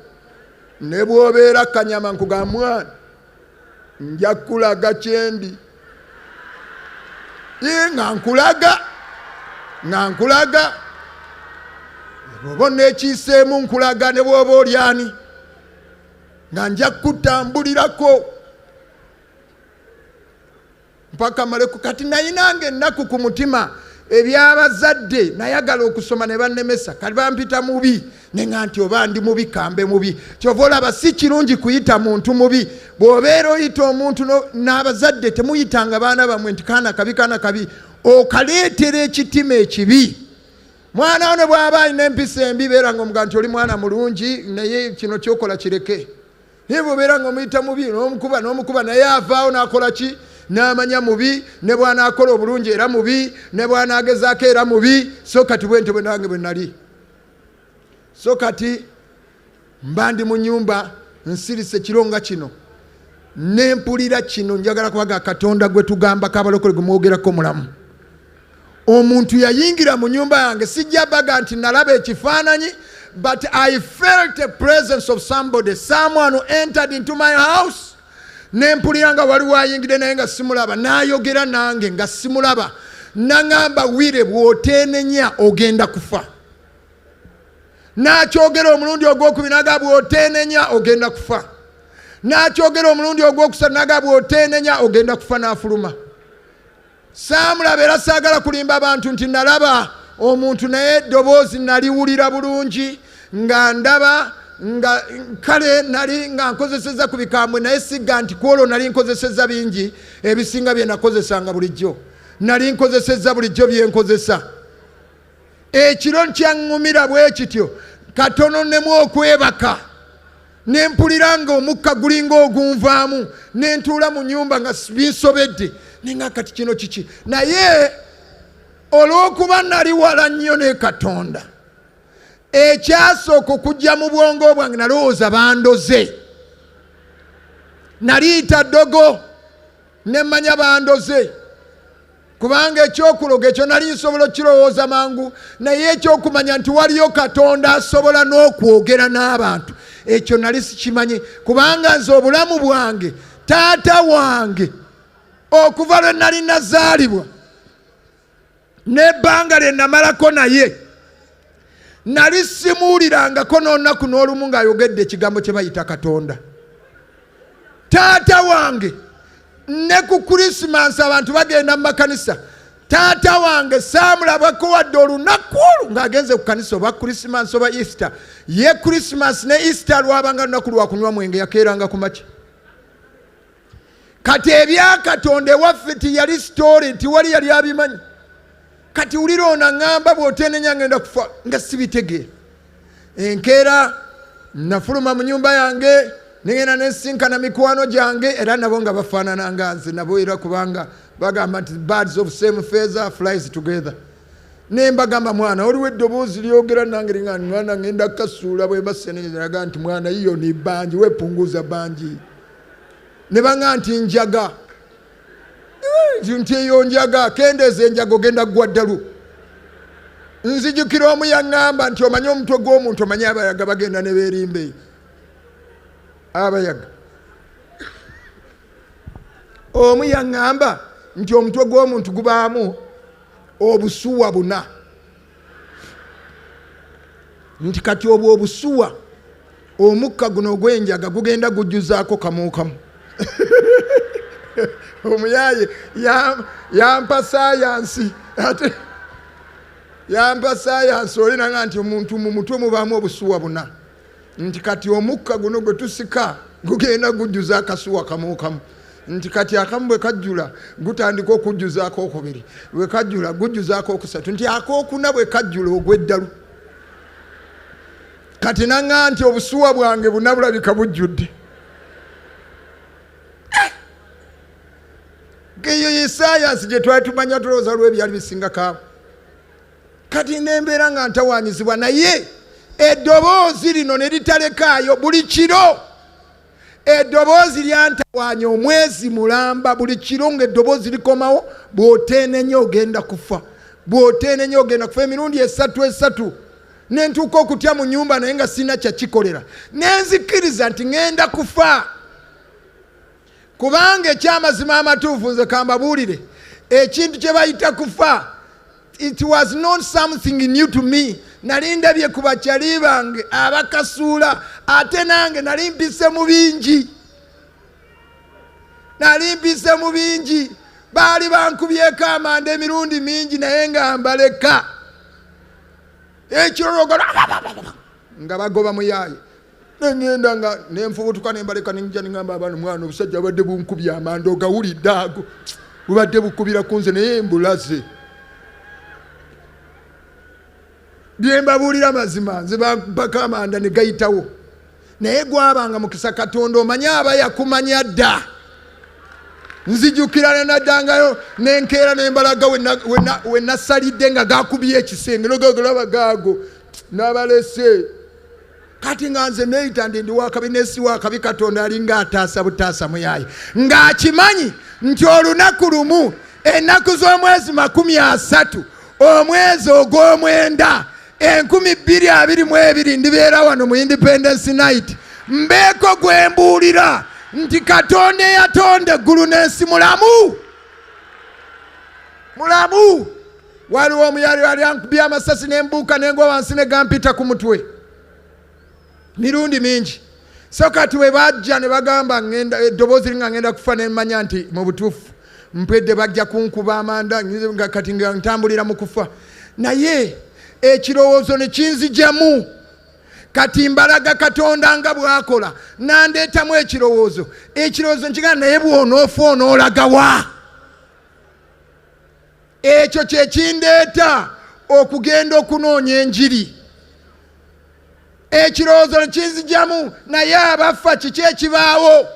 ne bwobeera kanyama nkuga mwana nja kulaga kyendi nga nkulaga nga nkulaga bwoba onekiiseemu nkulaga ne bwoba olyani nga nja kutambulirako mpaka maleku kati nayinanga ennaku ku mutima ebyabazadde nayagala okusoma ne bannemesa kati bampita mubi ne nga nti oba ndi mubi kambe mubi kyova olaba si kirungi kuyita muntu mubi bw'obeera oyita omuntu n'abazadde temuyitanga baana bamwe nti kaana kabi kaana kabi okaleetera ekitima ekibi mwana wo ne bw'aba alina empisa embi beera nga omuga nti oli mwana mulungi naye kino kyokola kireke naye bwobeera nga omuyita mubi nomukuba nomukuba naye avaawo nakola ki namanya mubi ne bwanakola obulungi era mubi ne bwanagezaako era mubi so kati bwentyo bwe nange bwe nali so kati mba ndi mu nyumba nsirise ekiro nga kino nempulira kino njagala kubaga katonda gwe tugamba kabalokole gwe mwogerako mulamu omuntu yayingira mu nyumba yange sijja baga nti nalaba ekifaananyi but i felt a presence of somebody someone who entered into my house nempulira nga waliwo ayingidde naye nga simulaba nayogera nange nga simulaba naŋamba wire bwotenenya ogenda kufa nakyogera omulundi ogwokubiri naga bwotenenya ogenda kufa nakyogera omulundi ogwokusatu naga bwotenenya ogenda kufa nafuluma saamulaba era saagala kulimba bantu nti nalaba omuntu naye eddoboozi naliwulira bulungi nga ndaba nga kale nali nga nkozeseza ku bikambwe naye sigga nti kwolwo nali nkozeseza bingi ebisinga bye nakozesanga bulijjo nali nkozeseza bulijjo bye nkozesa ekiro nkyaŋŋumira bwe kityo katono nemu okwebaka ne mpulira nga omukka gulinga ogunvaamu ne ntuula mu nyumba nga binsobedde ninga kati kino kiki naye olw'okuba nali wala nnyo ne katonda ekyasooka okujja mu bwongo bwange nalowooza bandoze naliita ddogo ne mmanya bandoze kubanga ekyokuloga ekyo nali nsobola okukirowooza mangu naye ekyokumanya nti waliyo katonda asobola n'okwogera n'abantu ekyo nali sikimanyi kubanga nze obulamu bwange taata wange okuva lwe nali nazaalibwa n'ebbanga lye namalako naye nali simuwulirangako n'olunaku n'olumu ng'ayogedde ekigambo kye bayita katonda taata wange ne ku krisimansi abantu bagenda mu makanisa taata wange saamulabako wadde olunaku olwo ng'agenze ku kanisa oba krisimansi oba easter ye krisimansi ne easter lwabanga lunaku lwakunywa mwenge yakeeranga ku makya kati ebyakatonda ewaffe tiyali sitoole nti wali yali abimanyi kati wulira ono aŋamba bwotenenya ngenda kufa nga sibitegeera enkeera nafuluma mu nyumba yange nigenda nesinkana mikwano gyange era nabo nga bafaanana nga nze nabo era kubanga bagamba nti birds of same feather flies together nembagamba mwana oliwo eddoboozi lyogera nange nga mwana ngenda kasuula bwembaseneraga nti mwana yiyo ni bangi wepunguza bangi ne banga nti njaga eh, nti eyo njaga kendeeza enjaga ogenda kugwa ddalu nzijukira omu yaŋŋamba nti omanye omutwe gw'omuntu omanye abayaga bagenda ne beerimba eyo abayaga omu yaŋŋamba nti omutwe gw'omuntu gubaamu obusuwa buna nti kati obwo obusuwa omukka guno ogw'enjaga gugenda gujjuzaako kamuukamu omuyaaye yampa sayansi ate yampa sayansi olinaga nti omuntu mu mutwe mubaamu obusuwa buna nti kati omukka guno gwe tusika gugenda gujjuza akasuwa kamukamu nti kati akamu bwe kajjula gutandika okujjuza akokubiri bwe kajjula gujjuza akokusatu nti akokuna bwe kajjula ogweddalu kati naŋa nti obusuwa bwange bunabulabika bujjudde eyo ye sayansi gye twali tumanya tulowooza lwebyali bisingakaawo kati nembeera nga ntawanyizibwa naye eddoboozi lino ne litalekaayo buli kiro eddoboozi lyantawanya omwezi mulamba buli kiro nga eddoboozi likomawo bwoteenenya ogenda kufa bwoteenenya ogenda kufa emirundi esatu esatu nentuuka okutya mu nyumba naye nga sirina kyakikolera nenzikkiriza nti ŋenda kufa kubanga ekyamazima amatuufu nze kambabuulire ekintu kye bayita kufa it was not something new to me nali ndabye ku bakyali bange abakasuula ate nange nali mpise mu bingi nali mpise mu bingi baali bankubyeko amanda emirundi mingi naye nga mbaleka ekyolwogala nga bagoba muyaaye nengenda nga nenfubutuka nembaleka nenja nengamba abaana mwana obusajja bubadde bunkubye amanda ogawulidde ago bubadde bukubira ku nze naye mbulaze byembabuulira mazima nze bako amanda negayitawo naye gwabanga mukisa katonda omanye aba yakumanya dda nzijukira nenaddangayo nenkeera nembalaga wenasalidde nga gakubye ekisenge nogagalaba gaago nabalese kati nga nze neyita ndi ndi wakabi nesi wakabi katonda alinga ataasa butaasa muyaye ng'akimanyi nti olunaku lumu ennaku z'omwezi makumi asatu omwezi ogw'omwenda enkumi bbiri abiri mu ebiri ndibeera wano mu independence night mbeeko gwe mbuulira nti katonda eyatonda eggulu n'ensi mulamu mulamu waliwo omu yali ali ankubye amasasi nembuuka nengwa wansi negampita ku mutwe mirundi mingi so kati bwe bajja ne bagamba ngenda eddoboozi linga ngenda kufa nemanya nti mu butuufu mpedde bajja kunkuba amanda kati nga ntambulira mu kufa naye ekirowoozo ne kinzijamu kati mbalaga katonda nga bwakola nandeetamu ekirowoozo ekirowoozo nkigana naye bwonoofa onoolagawa ekyo kyekindeeta okugenda okunoonya enjiri ekirowoozo nekinzijamu naye abaffa kiki ekibaawo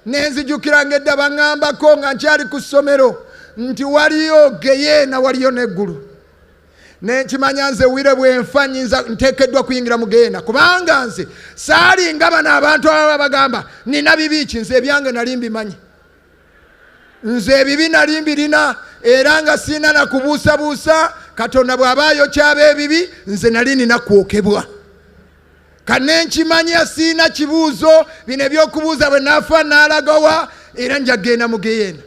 nenzijukira nga edda baŋambako nga nkyali ku ssomero nti waliyo geyeena waliyo neggulu nenkimanya nze wire bwenfa nyinza ntekeddwa kuyingira mu geyeena kubanga nze saalinga bano abantu ababa bagamba nina bibiiki nze ebyange nali mbimanyi nze ebibi nali mbirina era nga sirina na kubuusabuusa katonda bw'aba ayokyaba ebibi nze nali nina kwokebwa kanne nkimanya sirina kibuuzo bino ebyokubuuza bwe naafa naalagawa era nja kgenda mu geyeena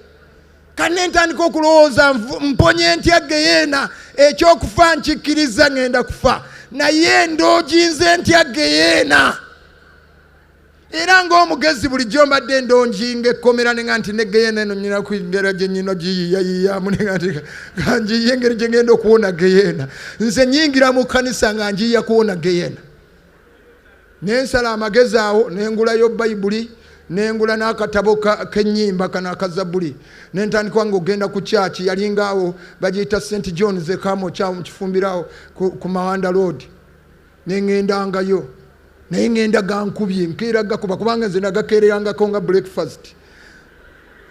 kanne ntandika okulowooza mponye ntya geyeena ekyokufa nkikkiriza ŋenda kufa naye ndooginze ntya geyeena era ng'omugezi bulijjo mbadde ndonjinga ekkomera nenga nti negeyena eno nyina kwingera gye nyina ogiyiyayiyamu nenga nti kanjiye engeri gye ngenda okuwona geyena nze nyingira mu kkanisa nga njiya kuwona geyena nensala amagezi awo nengulayo bayibuli nengula n'akatabo k'ennyimba kano akazabuli nentandikwa nga ogenda ku kyaki yalinga awo bagiyita st john zekamu kyawo mu kifumbirawo ku mawanda road nengendangayo naye ngenda gankubye nkeera gakuba kubanga nze nagakeererangako nga breakfast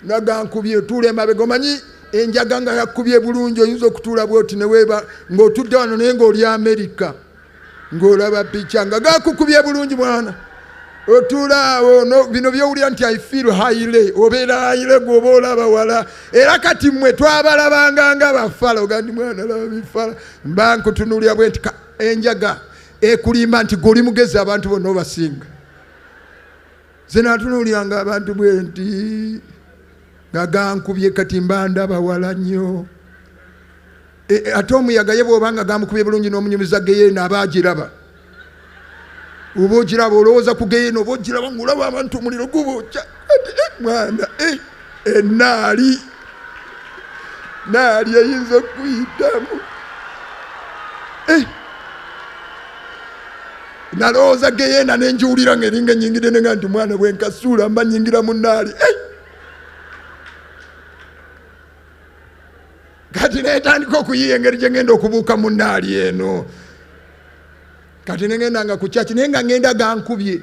nagankubye otuula emabega omanyi enjaga nga yakubye bulungi oyinza okutuula bwoti neweeba ngaotudde wano naye ngaoli amerika ngaolaba pica nga gakukubye bulungi mwana otuulaawo bino byowulira nti i feel haile obeera haile gwoba olaba wala era kati mmwe twabalabanga nga bafala ogandi mwana laba bifala mba nkutunulira bwenti enjaga ekulimba nti gwe oli mugezi abantu bonna obasinga zenatunuulyanga abantu bwe nti nga gankubye kati mbanda bawala nnyo e, e, ate omuyaga ye bwobanga gamukubye bulungi n'omunyumiza geyeena aba agiraba oba ogiraba olowooza ku geyeena oba ogiraba ngaolaba abantu omuliro gubookya mwana enaali naali eyinza okuyitamu eh. nalowooza geyena nenjiwulira nga eringa enyingide nenga nti mwana bwenkasuula mba nyingira mu naali eh. kati netandika okuyiya engeri gyengenda okubuuka mu naali eno kati nengenda nga kukyaki naye nga ngenda gankubye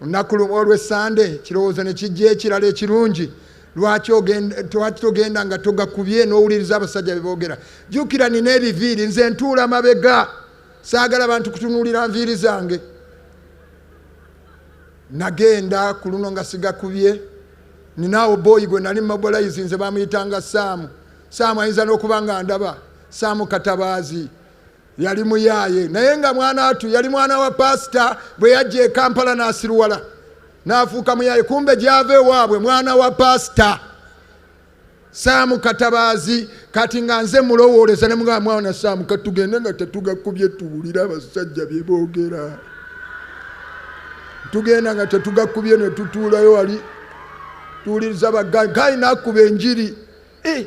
olunaku lumu olw'essande kirowoozo ne kijja ekirala ekirungi lwaki twaki togenda nga togakubye n'owuliriza abasajja be boogera jjukira nina ebiviiri nze ntuula mabega saagala bantu kutunuulira nviiri zange nagenda ku luno nga sigakubye ninaawo booyi gwe nali mumabolayizi nze bamuyitanga saamu saamu ayinza n'okuba nga ndaba saamu katabaazi yali muyaaye naye nga mwana watu yali mwana wa pasita bwe yajja e kampala n'asiruwala n'afuuka muyaaye kumbe gyava ewaabwe mwana wa pasita saamu katabaazi kati nga nze mulowooleza ne mugamba mwana saamu katugende nga tetugakubye tuwulire abasajja bye boogera tugenda nga tetugakubye ne tutuulayo wali tuwuliriza bagayi gayi n'akuba enjiri eh,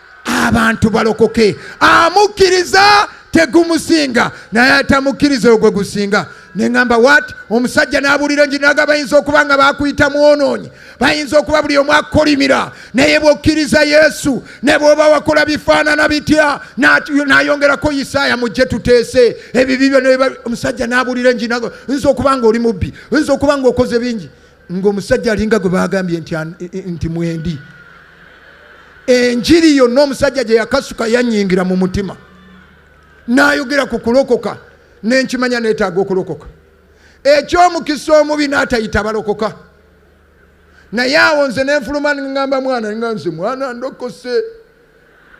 abantu balokoke amukkiriza tegumusinga naye atamukkiriza oyo gwe gusinga neŋamba wat omusajja n'abuulira enjiri naga bayinza okuba nga bakuyita mwonoonyi bayinza okuba buli omu akkolimira naye bwokkiriza yesu ne bwoba wakola bifaanana bitya nayongerako isaaya mujje tuteese ebibi byona omusajja n'abuulira enjiri naga oyinza okuba nga oli mubbi oyinza okuba nga okoze bingi ng'omusajja alinga gwe baagambye nti mwendi enjiri yonna omusajja gye yakasuka yanyingira mu mutima n'ayogera ku kulokoka nenkimanya neetaaga okulokoka ekyomukisa omubi n'atayita balokoka naye awo nze nenfuluma ngamba mwana nga nze mwana ndokose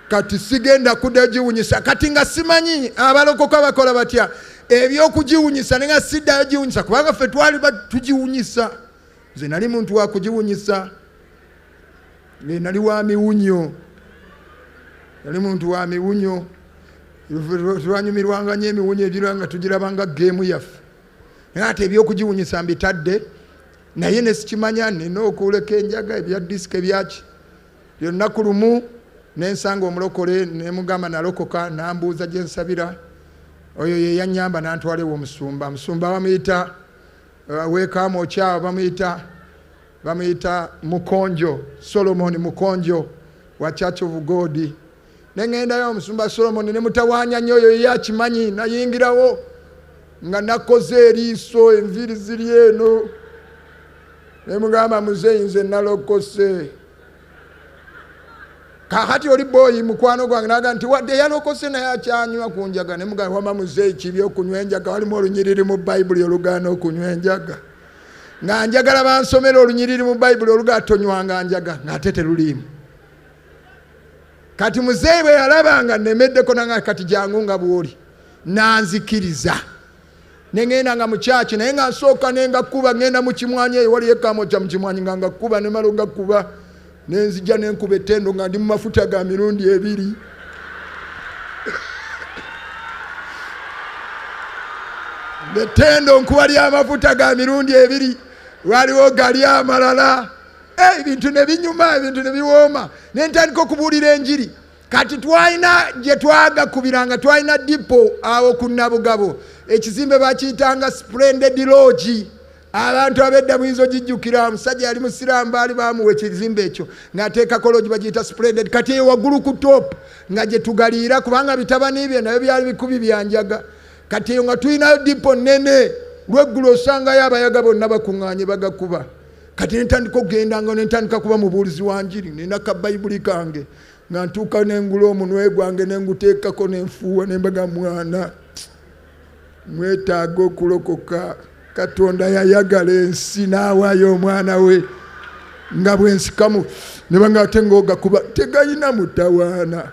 kati sigenda kuda giwunyisa kati nga simanyi abalokoka bakola batya ebyokugiwunyisa nenga siddayo giwunyisa kubanga ffe twali tugiwunyisa nze nali muntu wakugiwunyisa nali wa miwunyo nali muntu wa miwunyo twanyumirwanga nyo emiwunyo egira nga tugirabanga geemu yaffe naye ate ebyokugiwunyisa mbitadde naye nesikimanya nina okuleka enjaga ebya disika ebyaki lyonnaku lumu nensanga omulokole nemugamba nalokoka nambuuza gyensabira oyo yeyanyamba nantwala ewo omusumba musumba bamuyita uh, wekamu okyawo bamuyita bamuyita mukonjo solomon mukonjo wa church of god nengendayo omusumba solomoni nemutawanya nyo oyo ye akimanyi nayingirawo nga nakoze eriiso enviiri ziri eno nemugamba muzeyi nze nalokose kakati oli boyi mukwano gwange naga nti wadde yalokose naye akyanywa ku njaga nemugamba wama muzeyi kibi okunywa enjaga walimu olunyiriri mu bayibuli olugaana okunywa enjaga nga njagala bansomera olunyiriri mu bayibuli olugaa tonywanga njaga ngaate teruliimu kati muzeeyi bwe yalaba nga nemeddeko nanga kati jangu nga bwoli nanzikiriza nengenda nga mukyaki naye nga nsooka nengakuba ngenda mukimwanyi eyo waliyo ekamo kya mukimwanyi nga ngakuba nemala ogakuba nenzija nenkuba etendo nga ndi mumafuta ga mirundi ebiri etendo nkuba lyamafuta ga mirundi ebiri waliwo gali amalala Eh, ebintu ne binyuma ebintu ne biwooma ne ntandika okubuulira enjiri kati twalina gye twagakubiranga twalina dipo awo ku nabugabo ekizimbe bakiyitanga splended logi abantu abedda muyinza ogijjukira omusajja yali musiraamu baali bamuwa ekizimbe ekyo ng'ateekako logi bagiyita splended kati eyo waggulu ku top nga gye tugaliira kubanga bitabani bye nabyo byali bikubi byanjaga kati eyo nga tulinayo dipo nnene lweggulo osangayo abayaga bonna bakuŋŋaanye bagakuba kati nentandika okugenda nga nentandika kuba mubuulizi wa njiri nina ka bayibuli kange nga ntuuka nengula omunwe gwange nenguteekako nenfuuwa nembaga mwana mwetaaga okulokoka katonda yayagala ensi n'awaayo omwana we nga bwensikamu nebanga ate ngaogakuba tegayina mutawaana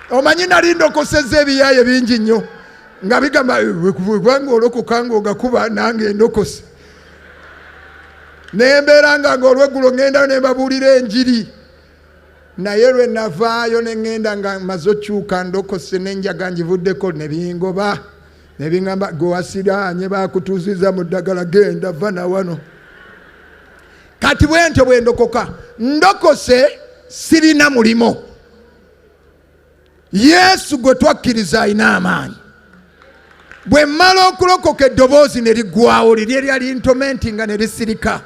omanyi nali ndokoseza ebiyaaye bingi nnyo nga bigamba wekubanga olokoka nga ogakuba nange endokosi nembeera nga nga olweggulo ŋŋendayo ne mbabuulira enjiri naye lwe navaayo ne ŋŋenda nga maze okyuka ndokose nenjaga njivuddeko ne bingoba ne biŋamba gwe wasiraanye bakutuuziza mu ddagala genda va na wano kati bwe ntyo bwe ndokoka ndokose sirina mulimo yesu gwe twakkiriza alina amaanyi bwe mmala okulokoka eddoboozi ne liggwawo lirye lyali ntomenti nga ne lisirika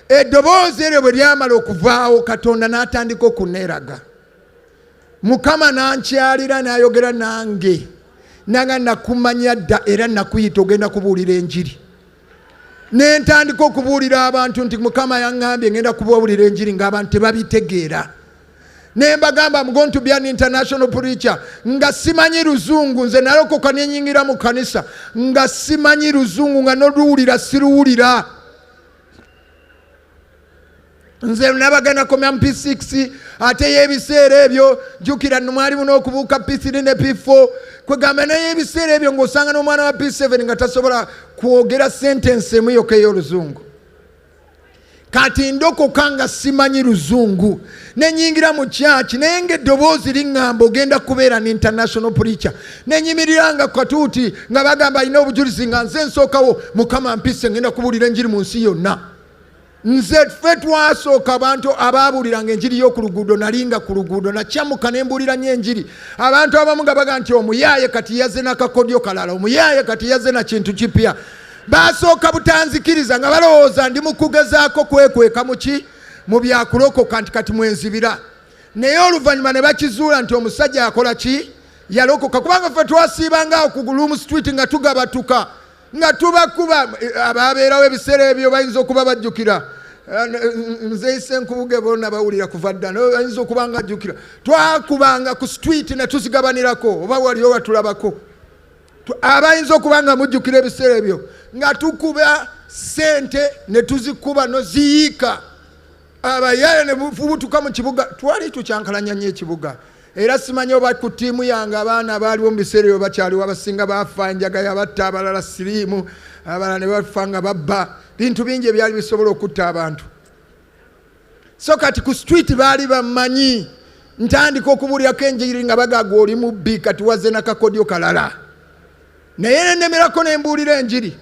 eddoboozi eryo bwe lyamala okuvaawo katonda n'atandika okuneeraga mukama nankyalira n'ayogera nange nanga nakumanya dda era nakuyita ogenda kubuulira enjiri nentandika okubuulira abantu nti mukama yaŋŋambye ngenda kubabuulira enjiri ng'abantu tebabitegeera ne mbagamba mgo nti byan international preacher nga simanyi luzungu nze nalokoka nenyingira mu kanisa nga simanyi luzungu nga noluwulira siruwulira nze nabagana komya mu p6 ate yebiseera ebyo jukira numwalimu nokubuuka p3 ne p4 kwegamba naye ebiseera ebyo ngaosanga nomwana wa p7 nga tasobola kwogera sentensi emu yoka eyoluzungu kati ndokoka nga simanyi luzungu nenyingira mu kyaki naye nga eddoboozi liŋŋamba ogenda kubeera ne international preacher nenyimirira nga katuuti nga bagamba alina obujulizi nga nze nsookawo mukama mpise ngenda kubuulira enjiri mu nsi yonna nze ffe twasooka abantu abaabuliranga enjiri y'oku luguudo nalinga ku luguudo nakyamuka ne mbuulira nyo enjiri abantu abamu nga baga nti omuyaaye kati yaze nakakodyo kalala omuyaaye kati yaze na kintu kipya baasooka butanzikiriza nga balowooza ndi mu kugezaako kwekweka muki mu byakulokoka nti kati mwenzibira naye oluvannyuma ne bakizuula nti omusajja akola ki yalokoka kubanga ffe twasiibanga okugulumu street nga tugabatuka nga tubakuba abaabeerawo ebiseera ebyo bayinza okuba bajjukira nze ise nkubuge bona bawulira kuva dda ayinza okuba nga ajjukira twakubanga ku street ne tuzigabanirako oba waliyo watulabako abayinza okuba nga mujjukira ebiseera ebyo nga tukuba sente ne tuzikuba noziyiika abayaye ne bufubutuka mu kibuga twali tukyankalanya nyo ekibuga era simanyi oba ku ttiimu yange abaana abaaliwo mu biseera ebyo bakyaliwo abasinga baafa enjaga yabatta abalala siriimu abalala ne bafa nga babba bintu bingi ebyali bisobola okutta abantu so kati ku street baali bamanyi ntandika okubuulyako enjiri nga bagaga oli mubbi kati waze nakakodyo kalala naye nenemerako nembuulira enjiri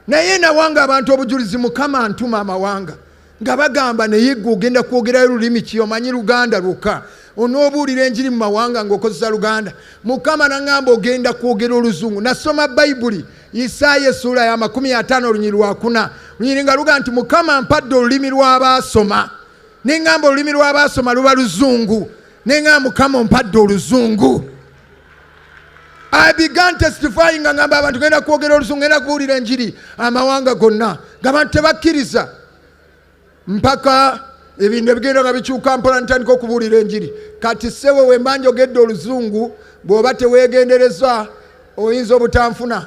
naye nawanga abantu obujulizi mukama ntuma amawanga nga bagamba naye gwe ogenda kwogerayo lulimi ki omanyi luganda lwokka onoobuulira enjiri mu mawanga ng'okozesa luganda mukama naŋamba ogenda kwogera oluzungu nasoma bayibuli isaaya esuula ya makumi ataano olunyiri lwakuna lunyiri nga luga nti mukama mpadde olulimi lw'abaasoma neŋamba olulimi lw'abaasoma luba luzungu neŋamba mukama ompadde oluzungu I began testifying nga ngamba abantu genda kwogera olusungu genda kubuulira enjiri amawanga gonna ngabantu tebakkiriza mpaka ebintu ebigenda nga bikyuka mpola ntandika okubuulira enjiri kati sewe wemba njogedde oluzungu bw'oba teweegendereza oyinza obutanfuna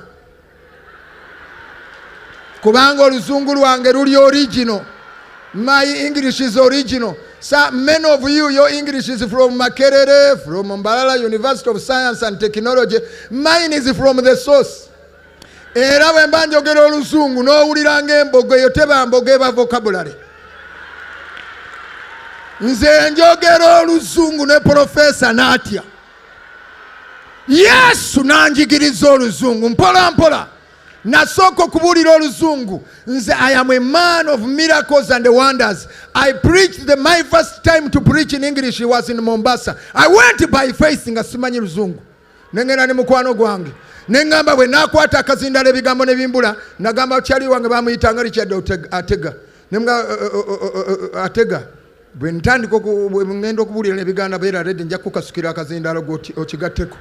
kubanga oluzungu lwange luli original my english is original sa many of you your english is from makerere from mbalala university of science and technology mine is from the source era bwe mba njogera oluzungu n'owulira ng'embogo eyo teba mbogo eba vocabulary nze njogera oluzungu ne profesa n'atya yesu n'anjigiriza oluzungu mpola mpola nasooka okubuulira oluzungu nze i am a man of miracles and wonders i preached the my first time to preach in english was in mombasa i went by faith nga simanyi luzungu nengenda ne mukwano gwange neŋŋamba bwe nakwata akazindala ebigambo ne bimbula nagamba kyali wange bamuyitanga richard atega nemga atega bwe ntandika ngenda okubuulira nebiganda beera redi nja kukasukira akazindaalo gwokigatteko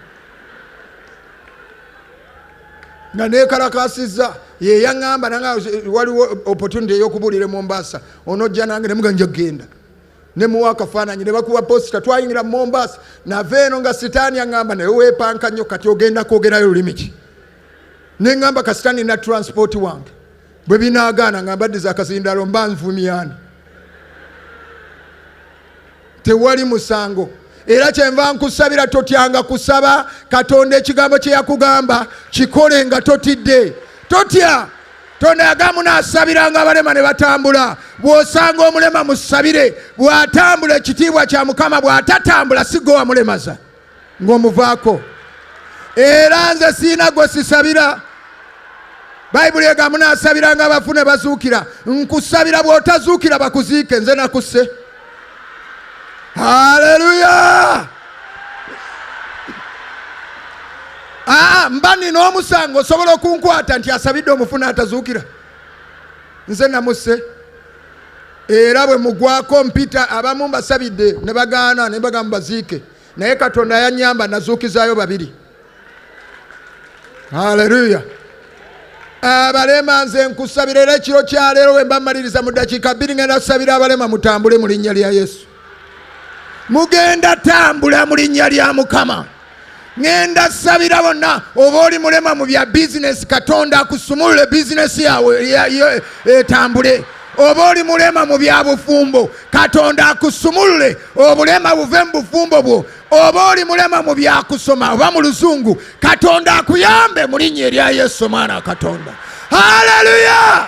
nga nekalakasizza yeyaŋamba nanga waliwo opportunity eyokubuulira mombasa onojja nange nemuga nja kugenda nemuwa akafaananyi nebakuba posita twayingira mombasa nava eno nga sitaani aŋamba naye wepanka nnyo kati ogenda kwogerayo lulimi ki neŋamba kasitaani na transport wange bwe binaagaana nga mbaddiza akazindaalo mba nvumyani tewali musango era kyenva nkusabira totyanga kusaba katonda ekigambo kye yakugamba kikole nga totidde totya tonaga munasabiranga abalema ne batambula bw'osanga omulema musabire bw'atambula ekitiibwa kya mukama bw'atatambula sigowa mulemaza ng'omuvaako era nze siina gwe sisabira bayibuli ega munaasabiranga abafu ne bazuukira nkusabira bw'otazuukira bakuziike nze nakusse haleluya aa ah, mba nina omusango osobola okunkwata nti asabidde omufuna atazuukira nze namusse era bwe mugwako mpita abamu mbasabidde ne bagaana ne bagamba baziike naye katonda yanyamba nazuukizaayo babiri haleluya abalema nze nkusabira era ekiro kyaleero wembamaliriza mu dakiika bbiri ngenda kusabira abalema mutambule mu linnya lya yesu mugenda tambula mu linnya lya mukama ŋenda sabira bonna oba oli mulema mu bya bizinesi katonda akusumulule bizinesi yawe etambule oba oli mulema mu bya bufumbo katonda akusumulule obulema buve mu bufumbo bwo oba oli mulema mu byakusoma oba mu luzungu katonda akuyambe mu linnya erya yesu omwana katonda haleluya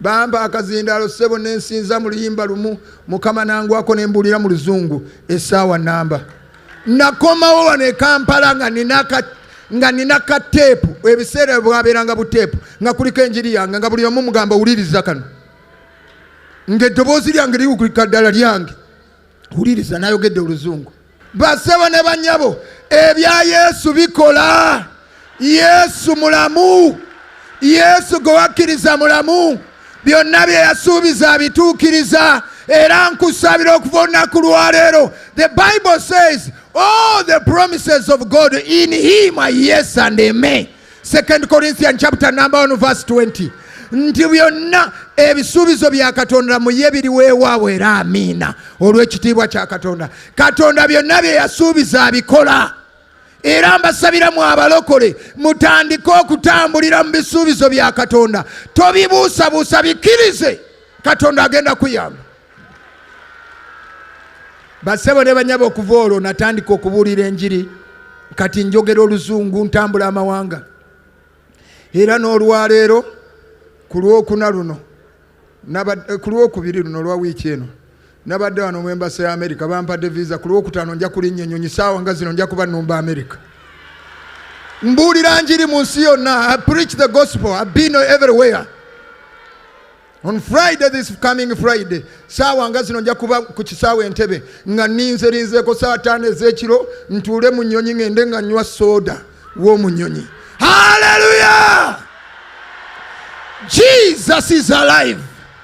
bampa akazindaalo ssebo ne nsinza mu luyimba lumu mukama nangwako ne mbuulira mu luzungu essaawa namba nakomawo wano e kampala nga nina nga nina ka teepu ebiseera bwabeeranga buteepu nga kuliko enjiri yange nga buli omu mugamba wuliriza kano ng'eddoboozi lyange liwukulika ddala lyange wuliriza nayogedde oluzungu Basebo ne banyabo, ebya Yesu bikola. Yesu mulamu. Yesu gwe wakkiriza mulamu. Byonna bye yasuubiza abituukiriza. Era nkusabira okuva olunaku lwaleero. The Bible says all the promises of God in him are yes and amen. 2 Corinthians chapter number 1 verse 20 nti byonna ebisuubizo bya katonda muye biri weewaawo era amiina olw'ekitiibwa kya katonda katonda byonna bye yasuubiza abikola era mbasabira mu abalokole mutandike okutambulira mu bisuubizo bya katonda tobibuusabuusa bikkirize katonda agenda kuyamba basebo ne banyaba okuva olwo natandika okubuulira enjiri kati njogera oluzungu ntambula amawanga era n'olwaleero ku lwokuna luno eh, ku lwokubiri luno olwa wiiki eno nabadde wano mu embasa ya amerika bampadde visa ku lwokutaano nja kulinnya ennyonyi saawa nga zino nja kuba numba amerika mbuulira njiri mu nsi yonna i preach the gospel i've been everywhere On Friday this coming Friday saawa nga zino nja kuba ku kisaawa entebe nga ninze linzeeko saawa taano ez'ekiro ntuule mu nnyonyi ng'ende nga nywa sooda w'omu nnyonyi haleluya jesus is alive